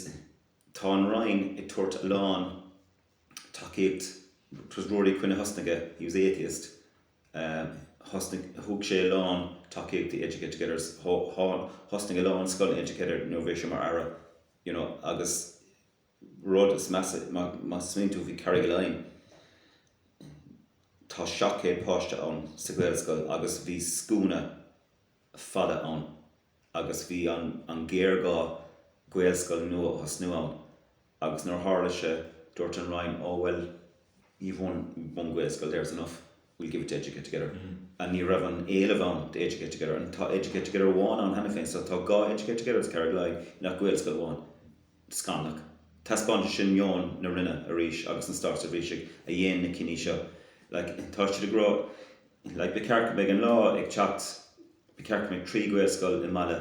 tá an Roinn ag tabhairt a lán tacaíocht, 'twas Ruairí Quinn a thosnaigh é, he was atheist, um thosnaigh, thug sé a lán tacaíocht do Educate Together, thosnaigh a lán scoileanna Educate nuair a bhí sé mar Aire, you know, agus. rud má smaoiníonn tú, bhí Carraig Uí Leighin, tá 700 páiste ann sa Ghaelscoil agus bhí scuaine fada ann agus bhí an-ghéarghá Gaelscoil nua a thosnú ann agus nuair a tharla sé dúirt an Roinn 'Ó bhuel, you've one, one Gaelscoil there is enough, we'll give it to Educate Together. And ní raibh an t-éileamh ann do Educate Together and tá Educate Together amháin ann cheana féin so tá dhá Educate Together i gCarraig Uí Leighin ach Gaelscoil amháin. Scanallach. Taispeánann sé sin meon na Roinne arís agus na státseirbhísigh a dhéin na cinní seo. Like, tá siad ag rá like ba cheart go mbeidh an lá ag teacht, ba cheart go mbeidh trí Ghaelscoil i mbaile,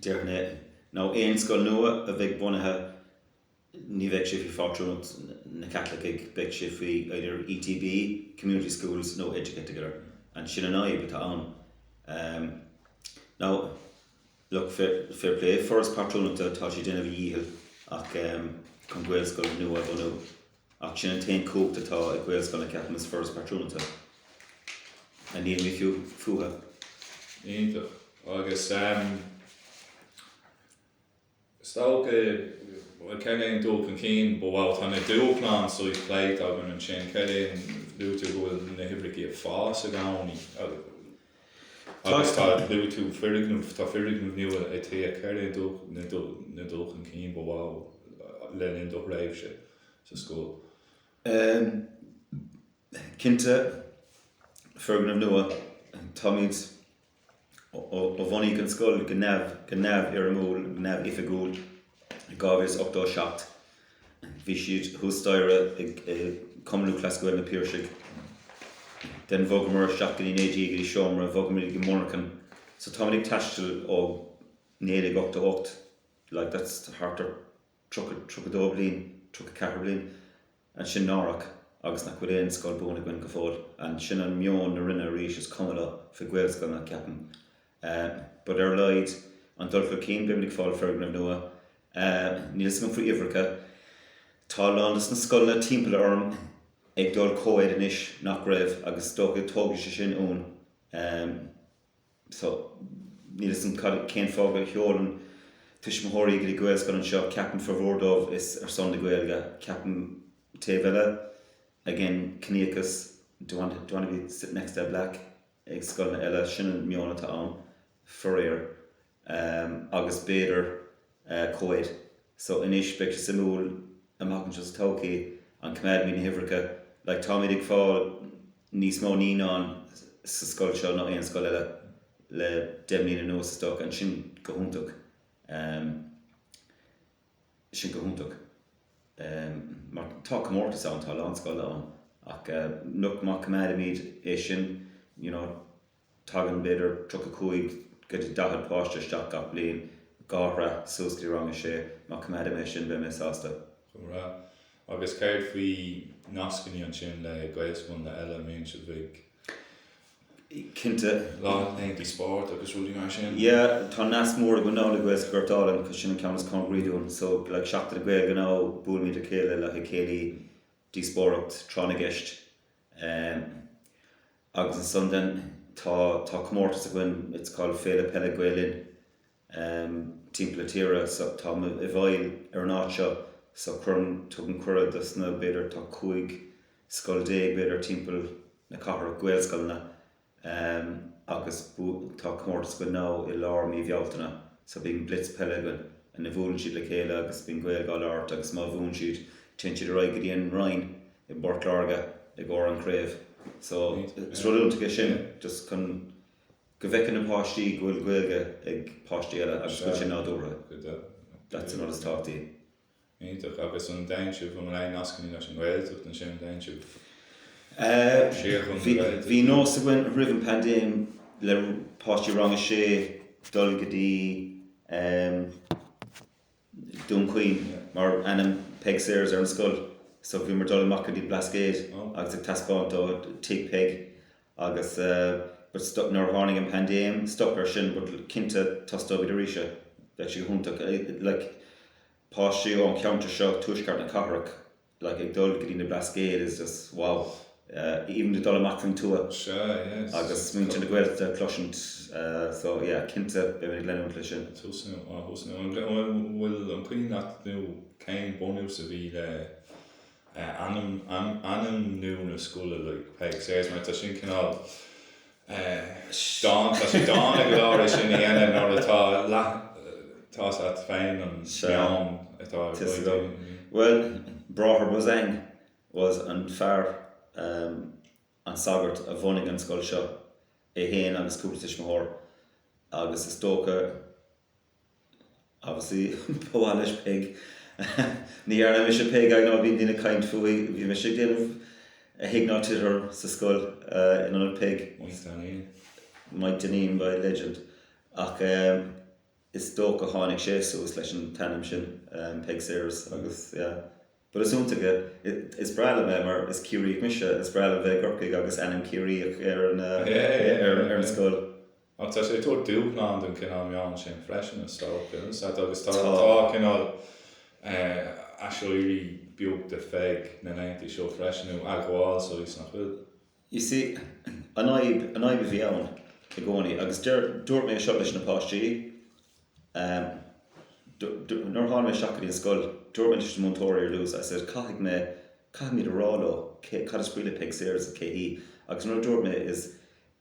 Déarfainn é, nó aon scoil nua a bheidh bunaithe, ní bheidh sé faoi phátrúnacht na gCaitliceach, beidh sé faoi either ETB, Community Schools, nó Educate Together. And sin an fhadhb atá ann. Now, look, fair play, foras pátrúnachta, tá sé ag déanamh a dhícheall, ach chun Gaelscoil nua a bhunú, Ach sin an t-aon chumhacht atá ag Gaelscoileanna, ceapaim, is foras pátrúnachta a ndíolfaidh fiú fúthu. Iontach. Agus stailc, bhuel, céard é an dul chun cinn ba mhó? Tá na dúshláin seo pléite againn ansin, céard é an, luaitear go bhfuil na hoibrící ag fás i gcónaí. Agus luaigh tú foirgneamh, tá foirgneamh nua ag T4 an dul chun cinn ba mhó le linn do thréimhse sa scoil. Cinnte, foirgneamh nua, táimid ó bhunaíodh an scoil go neamhfhoirmiúil, neamhoifigiúil. 2087. Bhí siad thuas staighre i gCumann Lúthchleas Gael na Piarsaigh. Then bhogamar isteach go dtí an AG go dtí seomra, bhogamar go Murchán. So táimid ag taisteal ó 1988, like that's thart ar 32 bliain, 34 bliain. And sin náireach agus nach bhfuil aon scoil buan againn go fóill? And sin an meon na Roinne arís, is cuma leo faoi Ghaelscoileanna, ceapaim. But ar a laghad, an dul chun cinn, beimid ag fáil foirgneamh nua. Níl fhios agam faoi uimhreacha. Tá a lán dos na scoileanna timpeall orm ag dul co-ed anois nach raibh agus is dócha tógfaidh sé sin uainn. so, níl 'fhios a'm cad, cén fáth gur sheolann tuismitheoirí go dtí Gaelscoil anseo, ceapaim formhór díobh is ar son na Gaeilge, ceapaim taobh eile, again ciníochas, don't want, don't want to be sitting next to a black ag scoileanna eile, sin an meon atá ann, faraor, ehm, agus b'fhéidir, eh, co-ed. So anois, beidh sé suimiúil amach anseo sa todhchaí, an gcoimeádfaimid na huimhreacha, like táimid ag fáil níos mó naíonáin sa scoil seo ná aon scoil eile le deich mbliana anuas is dócha, and sin go hiontach, em, sin go hiontach, em, mar tá comórtas ann, tá a lán scoileanna ach, eh, nuair, má coimeádfaimid é sin, you know, Tagann b'fhéidir 35-40 páiste isteach gach bliain, dhá shraith suas go dtí rang a sé. Má coimeádaim é sin beidh mé sásta. Go breá. Agus céard faoi nascannaí ansin le gaelscoileanna eile, mbíonn sibh ag. Cinnte. Laethantaí spóirt agus rudaí mar sin? Yeah, tá nasc mór againn now le Gaelscoil Ghort Álainn cause sin an ceann is cóngaraí dúinn. So, like Seachtain na Gaeilge now, buailimid le chéile le haghaidh céilí, díospóireacht, tráth na gceist. Um, agus ansan then tá, tá comórtas againn, it's called Féile Peile Gael Linn, um, timpeall na tíre so tá mé i bhfeighil ar an áit seo so cuireann, tugaim cuireadh dos na, b'fhéidir tá cúig scoil déag b'fhéidir timpeall na cathrach, Gaelscoileanna, Ehm, agus tá comórtas againn now i lár mí Bhealtaine, so bíonn blitz peile againn ina bhuaileann siad le chéile agus bíonn Gaeilge á labhairt agus má bhuann siad, téann siad ar aghaidh go dtí an Rinn i bPort Láirge i gcomhair an chraobh. So, is rud iontach é sin, just chun go bhfeiceann na páistí go bhfuil Gaeilge ag páistí eile agus go bhfuil sé nádúrtha. That's an rud is tábhachtaí. Iontach. Agus an dtéann sibh i mbun aon nascanna leis an nGaeltacht ansin? An dtéann sibh siar chun na Gaeltachta? Bhí nós againn roimh an pandéim le páistí rang a sé dul go dtí Dún Chaoin mar ainm Peig Sayers ar an scoil so bhíomar ag dul amach go dtí Blascaod agus ag taispeáint dóibh Tigh Peig agus but stop nuair a tháinig an paindéim stop ar sin but cinnte tosnóimid arís é bheadh sé go hiontach like páistí ón cheantar seo tuaisceart na cathrach like ag dul go dtí na Blascaod is just wow even ag dul amach faoin tuath agus muintir na Gaeltachta a chloisint so yeah cinnte beimid ag leanúint leis sin. An bhfuil an cuimhin leat nó cén bunús a bhí le ainmniú na scoile like Peig Sayers mar tá sin cineál dána tá sé dána go leor é sin a dhéanamh nuair atá leath tá's agat féin an meon atá ag Tá's agam daoine bhuel Bráthair Beausang was an fear an sagart a bhunaigh an scoil seo é féin agus cúpla tuismitheoir agus is dócha Obviously, ba mhaith leis Peig. Ní dhearna mise Peig I know bíonn daoine ag caint fúithi. Bhí mise ag déanamh A Thig Ná Tit Orm sa scoil in ionad Peig. Maidhc Dainín. Maidhc Dainín, ba é Legend. Ach is dócha go tháinig sé suas leis an t-ainm sin, Peig Sayers, agus yeah. But is iontach é, is breá liom é mar is Ciarraíoch mise, is breá liom bheith i gCorcaigh agus ainm Ciarraíoch ar an scoil. Ach tá sé ag tabhairt dúshlán don chineál meon sin freisin is dócha, agus tá cineál aiséirí beag de Pheig na laethanta seo freisin, nó admháil, só, is nach bhfuil? Is í an fhadhb, an fhadhb a bhí ann i gcónaí, agus deir, dúirt mé seo leis na páistí, nuair a tháinig mé isteach go dtí an scoil, dúirt mé leis na múinteoirí ar dtús, I said, caithfidh mé, caithfimid a rá leo cé, cad is scéal le Peig Sayers is cé hí, agus an rud a dúirt mé is,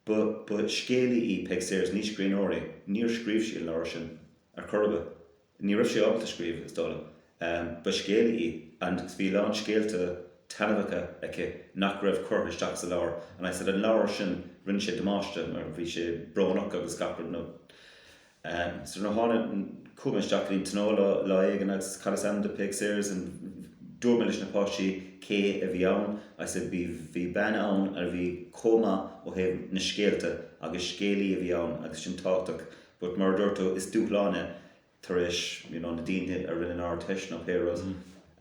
ba, ba scéalaí í Peig Sayers, ní scríbhneoir í, níor scríobh sí an leabhar sin ar chor ar bith. Ní raibh sí ábalta scríobh, is dóigh liom. Ba scéalaí í, and bhí a lán scéalta taitneamhacha aici nach raibh curtha isteach sa leabhar, and I said an leabhar sin, rinne sé damáiste mar bhí sé brónach agus gach rud so nuair a thána, chuaigh mé isteach go dtí an tionól lá éigin agus chanas an t-amhrán do Peig Sayers and dúirt mé leis na páistí cé a bhí ann, I said bhí, bhí bean ann a bhí chomh maith ó thaobh na scéalta agus scéalaí a bhí ann agus sin tábhachtach But mar a dúirt tú, is dúshlán é tar éis you know na daoine a rinne an Ardteist nó pé rud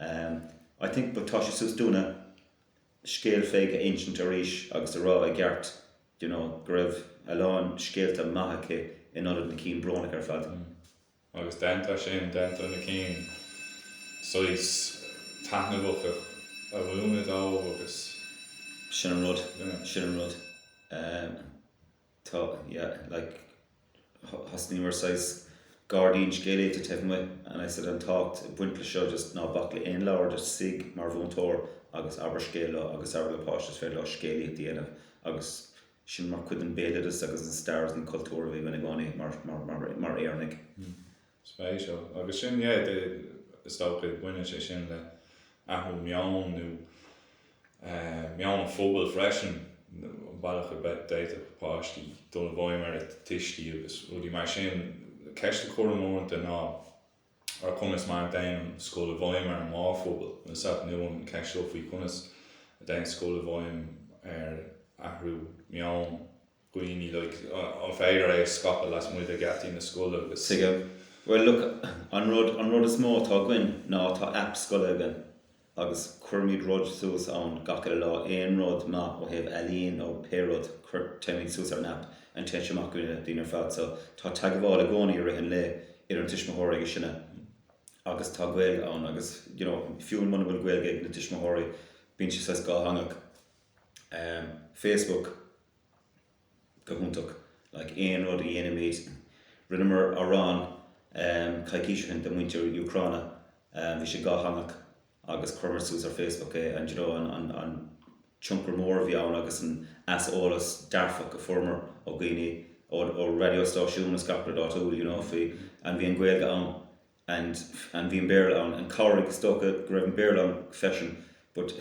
ehm I think but tá sé suas dúinn an scéal Pheig a insint arís agus a rá i gceart you know go raibh a lán scéalta maithe aici in ionad na cinn brónacha ar fad. Mm agus déantar sin, déantar na cinn saghas taitneamhacha a mhúineadh dóibh agus Sin an rud, you know. sin an rud. Ehm. Tá, yeah, like, thosnaíomar saghas gairdín scéalaíochta taobh amuigh and I said an tábhacht ag baint le seo just ná bac le aon leabhar, just suigh mar mhúinteoir agus abair scéal leo agus abair le páiste is féidir leo scéalaíocht a dhéanamh agus sin mar chuid den bhéaloideas agus an stair agus an cultúr a bhí againn i gcónaí mar, mar, mar, mar Éireannaigh. spéisiúil. Agus sin, yeah, the, is dócha, baineann sé sin le athrú meoin nó eh, meon an phobail freisin, an bealach a bhféad, d'fhéadfadh páistí dul i bhfeidhm ar a dtuistí agus rudaí mar sin. Ceist a cuirim uaireanta ná ar conas mar a dtéann an scoil i bhfeidhm ar an mórphobal. Is sórt nua an cheist seo faoi conas a dtéann scoil i bhfeidhm ar athrú meoin. dhaoine, like, an féidir é a scaipeadh lasmuigh de gheataí na scoile agus. Tuigim. Bhuel, look, an rud, an rud is mó atá againn ná tá aip scoile againn agus cuirimid rud suas ann gach uile lá, aon rud maith ó thaobh ealaín nó pé rud, cuir, cuirimid suas ar an aip and téann sé amach go na daoine ar fad so tá teagmháil i gcónaí i rith an lae idir na tuismitheoirí agus sinne agus tá Gaeilge ann agus, you know, fiú muna bhfuil Gaeilge ag na tuismitheoirí bíonn sé saghas dátheangach. Erm, Facebook. go hiontach, like aon rud a dhéanaimid, rinneamar amhrán coicís ó shin do mhuintir Úcráine, bhí sé dátheangach agus chuireamar suas ar Facebook é and you know an tionchar mór a bhí ann agus an aiseolas dearfach a fuaireamar ó dhaoine, ó raidióstáisiúin is gach rud áitiúil you know faoi and bhí an Ghaeilge ann. and and bhí an Béarla ann and cabhraigh is dócha go raibh an Béarla ann freisin but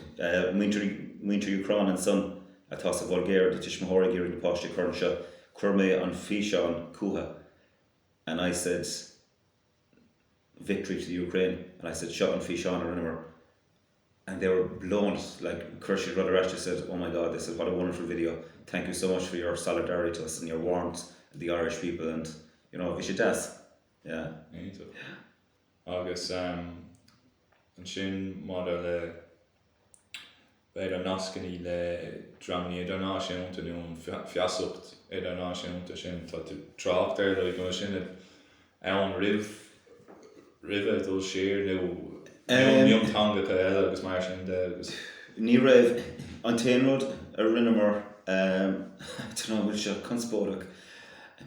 muintir muintir Úcráin ansan atá sa Bhulgáir, do tuismitheoirí ag iarraidh na páistí a chur anseo chuir mé an físeán chucu and I said victory to the Ukraine and I said seo an físeán a rinneamar and they were blown like chuir siad rud ar ais they said oh my God they said what a wonderful video thank you so much for your solidarity to us and your warmth the Irish people and you know bhí sé deas. Yeah, ní do. Agus ansin maidir le b'fhéidir nascanna le dreamanna idirnáisiúnta nó an feasacht idirnáisiúnta sin, tá tú ag trácht ar, an raibh sé sin ann roimh roimhe dul siar nó mionteangacha eile agus mar sin de agus. Ní raibh. An t-aon rud a rinneamar, I don't know an bhfuil seo conspóideach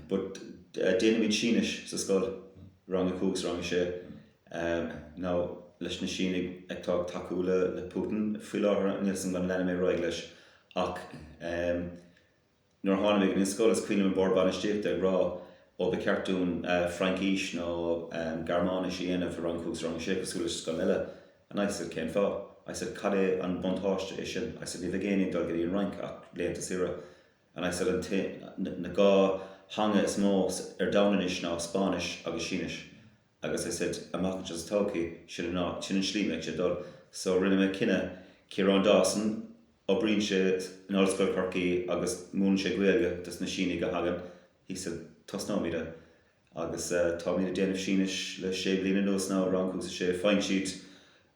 but, Déanaimid Sínis sa scoil, rang a cúig 's rang a sé, nó leis na Sínigh atá ag tacú le Putin faoi láthair, níl a fhios agam an leanfaidh mé ar aghaidh leis ach nuair a tháinig mé go dtí an scoil is cuimhin liom an Bord Bainistíochta ag rá ó ba cheart dúinn Fraincís nó Gearmáinis a dhéanamh i rang a cúig 's rang a sé cosúil leis na scoileanna eile and I said cén fáth? I said cad é an buntáiste é sin? I said ní bheidh éinne ag dul go dtí an Fhrainc ach laethanta saoire. And I said an t-aon, na dhá, theanga is mó ar domhan anois ná Spáinnis agus Sínis agus I said, amach anseo sa todhchaí, sin an áit, sin an slí a mbeidh sé ag dul. So rinne mé cinneadh, Ciarán Dawson, oibríonn sé in Ollscoil Chorcaí agus múineann sé Gaeilge dos na Sínigh a thagann, I said, tosnóimid é. Agus táimid ag déanamh Sínis le sé bliana anuas now, rang a cúig 's a sé, faigheann siad,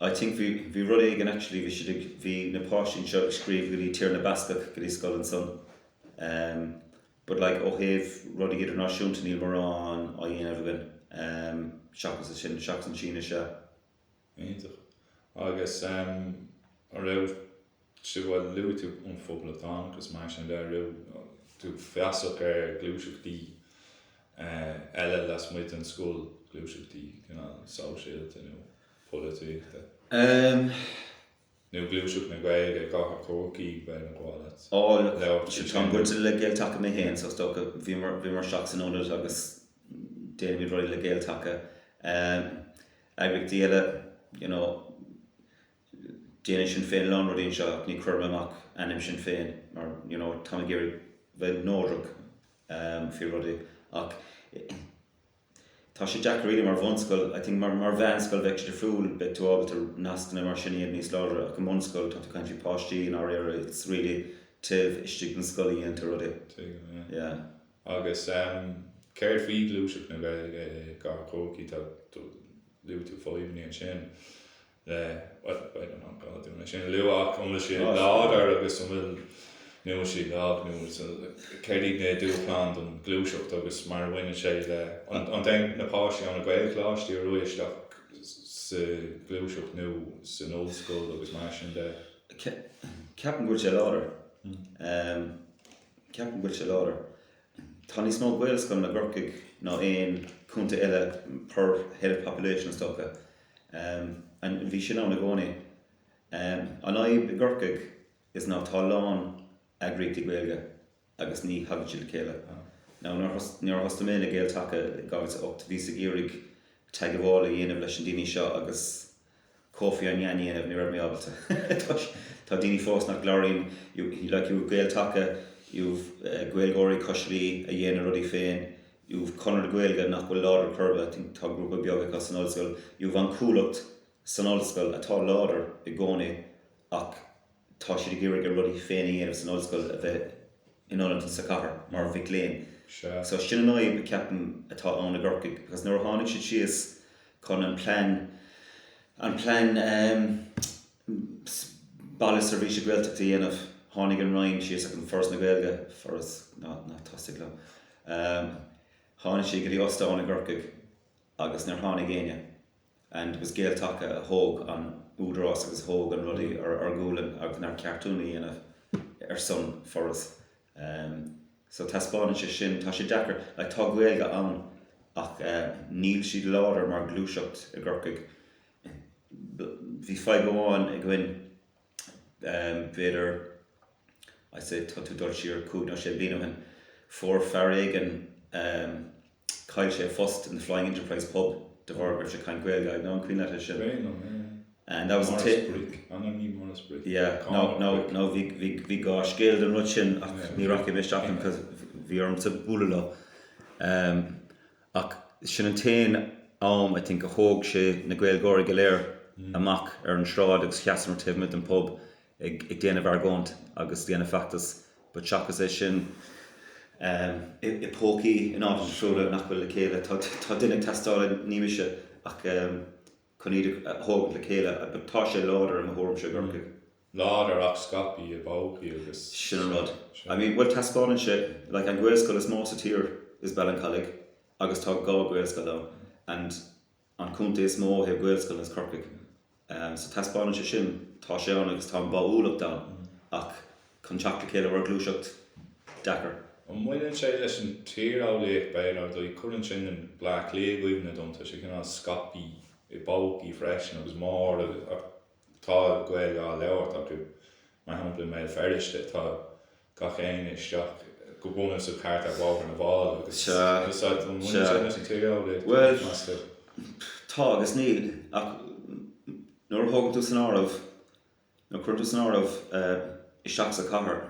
I think bhí, bhí rud éigin actually bhí siad ag, bhí na páistí anseo ag scríobh go dtí Tír na mBascach, go dtí scoil ansan em but like ó thaobh rudaí idirnáisiúnta níl mórán á dhéanamh againn em seachas é sin, seachas an tSínis a. Iontach. Agus em an raibh. Cé gur luaigh tú an poblachtánachas, is mar sin de, raibh tú feasach ar ghluaiseachtaí eile lasmuigh den scoil, gluaiseachtaí cineál sóisialta nó polaitíochta? Nó gluaiseacht na Gaeilge i gcathair Chorcaí, bheadh bá leat. Ó, táim bainteach le Gael-Taca mé féin, so is dócha, bímid isteach san Ionad agus déanaimid rudaí le Gael-Taca. Eagraíochtaí eile, you know, déanann Sinn Féin a lán rudaí anseo ach ní chuireann amach ainm Sinn Féin mar you know táim ag iarraidh bheith neodrach faoi rudaí ach tá sé deacair really mar bhunscoil I think mar mar mheánscoil bheadh sé difriúil beidh tú ábalta nascanna mar sin iad níos láidre ach i mbunscoil tá tú ag caint faoi páistí i ndáiríre it's really taobh istigh den scoil a dhéantar rudaí yeah. Agus céard faoi ghluaiseacht na Gaeilge i gcathair Chorcaí luaigh tú fadhbannaí ansin. bhuel, I'm not gonna iad sin a lua ach an bhfuil siad láidir agus an bhfuil, nó an bhfuil siad lag nó céard iad na dúshláin don ghluaiseacht agus mar a bhaineann sé le, an dtéann na páistí ó na Gaelcholáistí ar aghaidh isteach sa ghluaiseacht nó san ollscoil agus mar sin de? Ceapaim go bhfuil sé láidir, ceapaim go bhfuil sé láidir. Tá níos mó Gaelscoileanna i gCorcaigh ná aon chontae eile per head of population is dócha. And bhí sin ann i gcónaí? An fhadhb i gCorcaigh is ná tá a lán eagraíochtaí Gaeilge agus ní thagann siad le chéile. Now nuair a thosaigh mé le Gael-Taca i 2008 bhíos ag iarraidh teagmháil a dhéanamh leis na daoine seo agus Kofi Annan a dhéanamh, ní raibh mé ábalta toisc tá daoine fós nach gcláraíonn like you've Gael-Taca, you've Gaeilgeoirí Cois Laoi a dhéanann a rudaí féin, you've Conradh na Gaeilge nach bhfuil láidir ar chor ar bith I think tá grúpa beag acu san ollscoil you've an Chuallacht san ollscoil atá láidir i gcónaí ach tá siad ag iarraidh a rudaí féin a dhéanamh san ollscoil a bheith in ionad sa chathair mar mhic léinn so sin an fhadhb a ceapaim atá ann i gCorcaigh because nuair a tháinig siad síos chun an plean an plean ehm ehm, Baile Seirbhíse Gaeltachta a dhéanamh, tháinig an Roinn síos ag an Foras na Gaeilge, foras ná tosaigh mé, ehm tháinig siad go dtí ostán i gCorcaigh agus níor tháinig éinne and it was Gael-Taca a thóg an údarás agus a thóg na rudaí ar ár ngualainn agus nár cheart dúinn a dhéanamh ar son foras ehm so taispeánann sé sin, tá sé deacair, like tá Gaeilge ann ach eh níl siad láidir mar ghluaiseacht i gCorcaigh. Bhí fadhb amháin againn, b'fhéidir, I'd say tá tú ag dul siar cúig nó sé bliana ó shin, fuair fear éigin, chaill sé a phost in The Flying Enterprise pub de bharr go raibh sé ag caint Gaeilge, I dunno an cuimhin leat é sin. B'é nó, yeah. And that was a tip. Maurice Brick, an raibh ní Maurice Brick? Yeah, no, no, no, bhí, bhí, bhí dhá scéal den rud sin ach ní rachaidh mé isteach ann cos bhí ormsa bualadh leo. Ach sin an t-aon am, I think, a thóg sé na Gaeilgeoirí go léir amach ar an sráid agus sheasamar taobh amuigh den phub ag déanamh argóint agus ag déanamh feachtas but seachas é sin, i bpócaí in áiteanna difriúla nach bhfuil le chéile, tá duine ag teastáil, ní mise, ach chun iad a thógaint le chéile but tá sé láidir i mo thuairimse i gCorcaigh. Nó go bhfuil siad scaipthe i bpócaí agus. Sin an rud. I mean, bhuel, taispeánann sé, like, an Ghaelscoil is mó sa tír is Ballincollig agus tá dhá Ghaelscoil ann and an contae is mó ó thaobh Ghaelscoileanna is Corcaigh. Ehm, so taispeánann sé sin, tá sé ann agus tá an bháúlacht ann ach chun teacht le chéile mar ghluaiseacht, deacair. An mbaineann sé leis an tíreolaíocht b'fhéidir, ar ndóigh, cuireann sin Bleá Cliath i gcuimhne dom, tá sé cineál scaipthe i bpócaí freisin agus Máire, Tá Gaeilge á labhairt acu. Mar shampla i mBéal Feirste tá gach éinne isteach go buan sa chathair ar Bhóthar na bhFál agus is ea, an mbaineann sin leis an tíreolaíocht, meas tú. Tá agus níl ach nuair a thógann tú san áireamh, nuair a cuireann tú san áireamh isteach sa chathair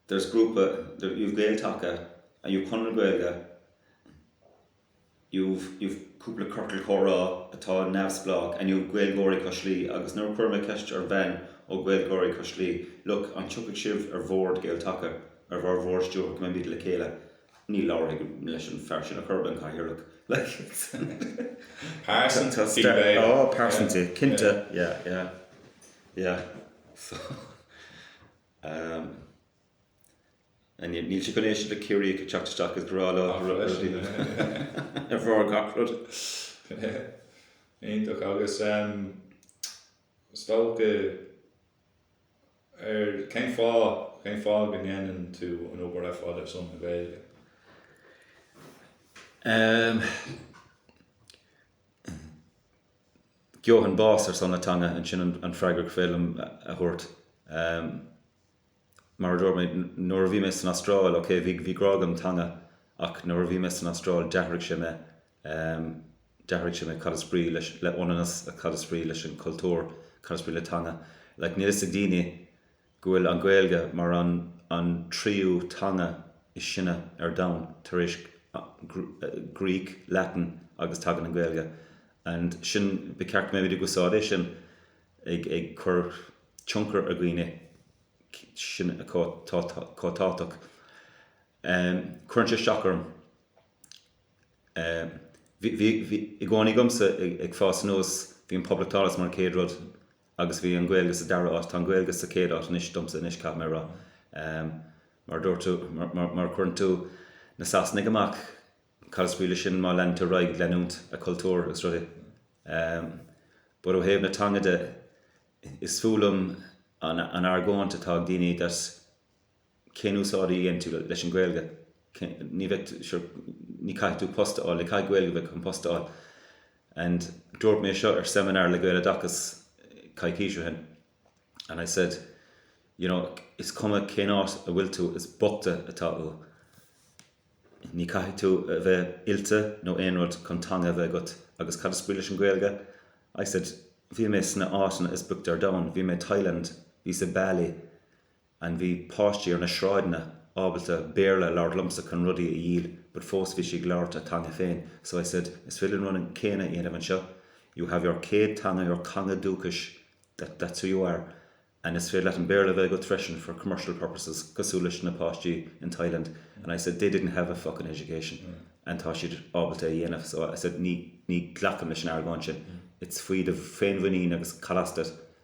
there's grúpa, you have Gael-Taca and you have Conradh na Gaeilge you've, you've cúpla ciorcal comhrá atá neamhspleách, and you've Gaeilgeoirí Cois Laoi, agus nuair a chuir mé ceist ar bhean ó Ghaeilgeoirí Cois Laoi, look, an dtiocfadh sibh ar bhord Gael-Taca, ar bharr bhord stiúrtha, go mbeimid le chéile, ní labhróidh mé leis an fear sin ar chor ar bith, an cathaoirleach, like. Níl siad chun éisteacht le Ciarraíoch ag teacht isteach agus ag rá leo rudaí ar bharr gach rud. Iontach agus is dócha ar cén fáth, cén fáth go ndéanann tú an obair ar fad ar son na Gaeilge? Gheobhainn bás ar son na teanga, sin an freagra gur féidir liom a thabhairt. Mar a dúirt mé, nuair a bhí mé san Astráil, ok, bhí grá agam don teanga ach nuair a bhí mé san Astráil, d'athraigh sé mé, d'athraigh sé mé. Cad is brí leis, le féiniúlacht, cad is brí leis an cultúr, cad is brí le teanga? Like, níl 'fhios ag daoine go bhfuil an Ghaeilge mar an, an tríú teanga is sine ar domhan, tar éis Greek, Latin agus tagann an Ghaeilge and sin, ba cheart go mbeimid ag úsáid é sin. ag cur tionchar ar dhaoine sin chomh tábhachtach. Cuireann sé isteach orm, bhí i gcónaí agamsa ag fás anuas, bhí an poblachtánachas mar an chéad rud agus bhí an Ghaeilge sa dara áit, tá an Ghaeilge sa chéad áit anois domsa anois, caithfidh mé a rá. Mar a dúirt tú, má chuireann tú na Sasanaigh amach, Cad is brí leis sin mura leanann tú ar aghaidh ag leanúint an cultúr is rudaí? Bhuel, ó thaobh na teanga de, is fuath liom an argóint atá ag daoine that cén úsáid a dhéanann tú leis an Ghaeilge, ní bheidh, sure, ní caithfidh tú post a fháil, ní caithfidh Gaeilge a bheith agat chun post a fháil. And dúirt mé seo ar seminar le Gaeloideachas coicís ó shin. and I said, you know, is cuma cén áit a bhfuil tú, is bochta atá tú. Ní caithfidh tú a bheith oilte nó aon rud chun teanga a bheith agat. Agus cad is brí leis an Ghaeilge? I said, bhí mé sna áiteanna is boichte ar domhan, bhí mé i Thailand, bhíos i Bali, and bhí páistí ar na sráideanna ábalta Béarla a labhairt liomsa chun rudaí a dhíol but fós bhí siad ag labhairt a teanga féin so I said is féidir an rud céanna a dhéanamh anseo you have your céad teanga your theanga dúchais that that's who you are and is féidir leat an Béarla a bheith agat freisin for commercial purposes cosúil leis na páistí in Thailand and I said they didn't have a fuckin education and tá siad ábalta é a dhéanamh so I said ní ní ghlacaim leis an argóint sin it's faoi do féinmhuinín agus cad as duit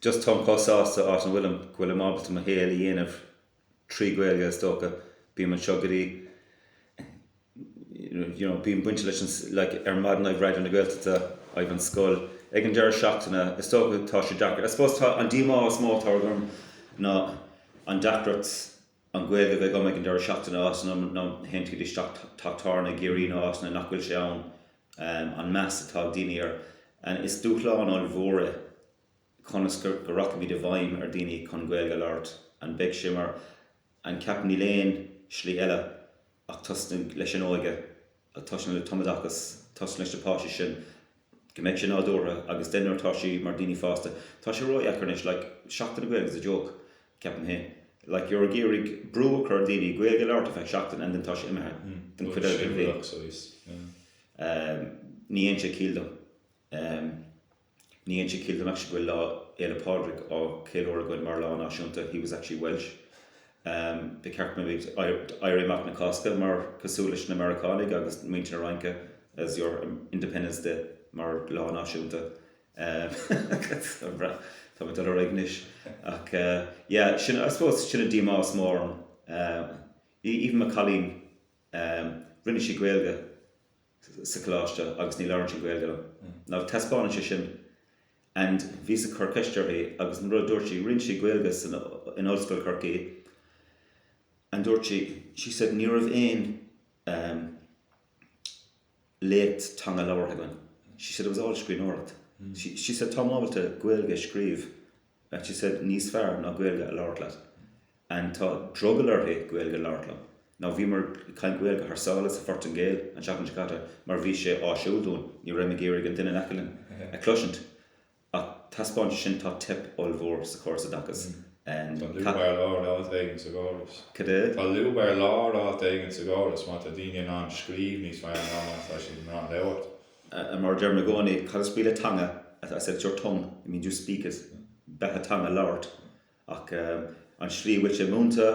just táim chomh sásta áit a bhfuilim go bhfuilim ábalta mo shaol a dhéanamh trí Ghaeilge is dócha bím anseo go dtí you know bím bainte leis an like ar maidin I've Raidió na Gaeltachta I've an scoil ag an deireadh seachtaine is dócha tá sé deacair I suppose tá an díomá is mó atá orm ná an deacracht an Ghaeilge a bheith agam ag an deireadh seachtaine as in théann tú isteach teach tábhairne i gCiarraí nó as in nach bhfuil sé ann an meas atá ag daoine air anois, dúshlán ollmhór é conas go rachaimid i bhfeidhm ar dhaoine chun Gaeilge a labhairt. An mbeidh sé mar n'fheadar ceapaim 'níl aon slí eile ach tosnaigh leis an óige, tosnaigh le tumoideachas, tosnaigh leis na páistí sin'? go mbeidh sé nádúrtha agus then nuair atá siad mar daoine fásta tá sé ródheacair anois like Seachtain na Gaeilge is a joke ceapaim féin like you're ag iarraidh brú a chur ar daoine Gaeilge a labhairt ar feadh seachtain and then tá sé imithe den chuid eile den bhliain Siúlach so he's yeah. ní dhéanann sé ciall dom ní dhéanann sé ciall dom actually go bhfuil Lá Fhéile Pádraig á cheiliúradh againn mar lá náisiúnta he was actually Welsh. Ba cheart go mbeidh éirí amach na Cásca mar cosúil leis na Meiriceánaigh agus muintir na Fraince as your Independence Day mar lá náisiúnta. Tá mé ag dul ar aghaidh anois. Ach yeah, sin, I suppose, sin an díomá is mó orm. Even mo cailín. Um. Rinne sí Gaeilge sa coláiste agus ní labhrann sí Gaeilge liom. Now taispeánann sé sin and bhíos ag cur ceist uirthi agus an rud a dúirt sí, rinne sí Gaeilge san, in Ollscoil Chorcaí and dúirt sí, she said ní raibh aon um léacht teanga labhartha againn, she said it was all scríbhneoireacht. She, she said táim ábalta Gaeilge a scríobh Like he said, níos fearr ná Gaeilge a labhairt leat. And tá drogall uirthi Gaeilge a labhairt liom. Now bhíomar ag caint Gaeilge thar sáile sa Phortaingéil an tseachtain seo caite mar bhí sé áisiúil dúinn, ní raibh mé ag iarraidh an duine in aice linn a cloisint. Ach taispeáint sin tá teip ollmhór sa chóras oideachais. Tá lúb ar lár áit éigin sa gcóras. Cad é? Tá lúb ar lár áit éigin sa gcóras má tá daoine in ann scríobh níos fearr ná má tá siad in ann labhairt. Mar a deirim i gcónaí, cad is brí le teanga? I said it's your tongue, it means you speak it. Beatha teanga labhairt. Ach an slí go bhfuil sé múinte,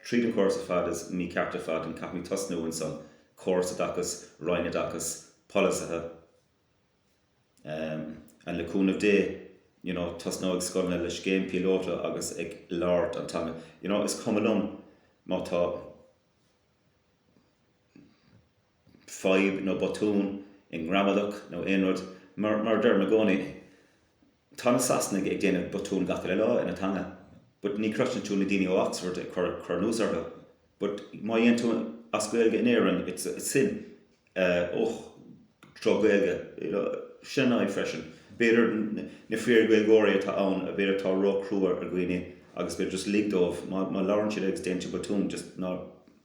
tríd an córas ar fad is mícheart ar fad and caithfimid tosnú ansan. Córas oideachais, Roinn Oideachais, polasaithe. Em. And le cúnamh Dé, you know, tosnóidh scoileanna le scéim píolóta agus ag labhairt an teanga. You know, is cuma liom má tá. fadhb nó botún i ngramadach nó aon rud, mar a deirim i gcónaí, tá na Sasanaigh ag déanamh botún gach uile lá ina dteanga but ní chloiseann tú na daoine ó Oxford ag cur anuas orthu but má dhéanann tú as Gaeilge in Éirinn it's a sin oh drochGhaeilge you know sin an fhadhb freisin b'fhéidir na fíor Gaeilgeoirí atá ann b'fhéidir atá ró chrua ar dhaoine agus b'fhéidir just lig dóibh má labhrann siad agus déanann tú botún just ná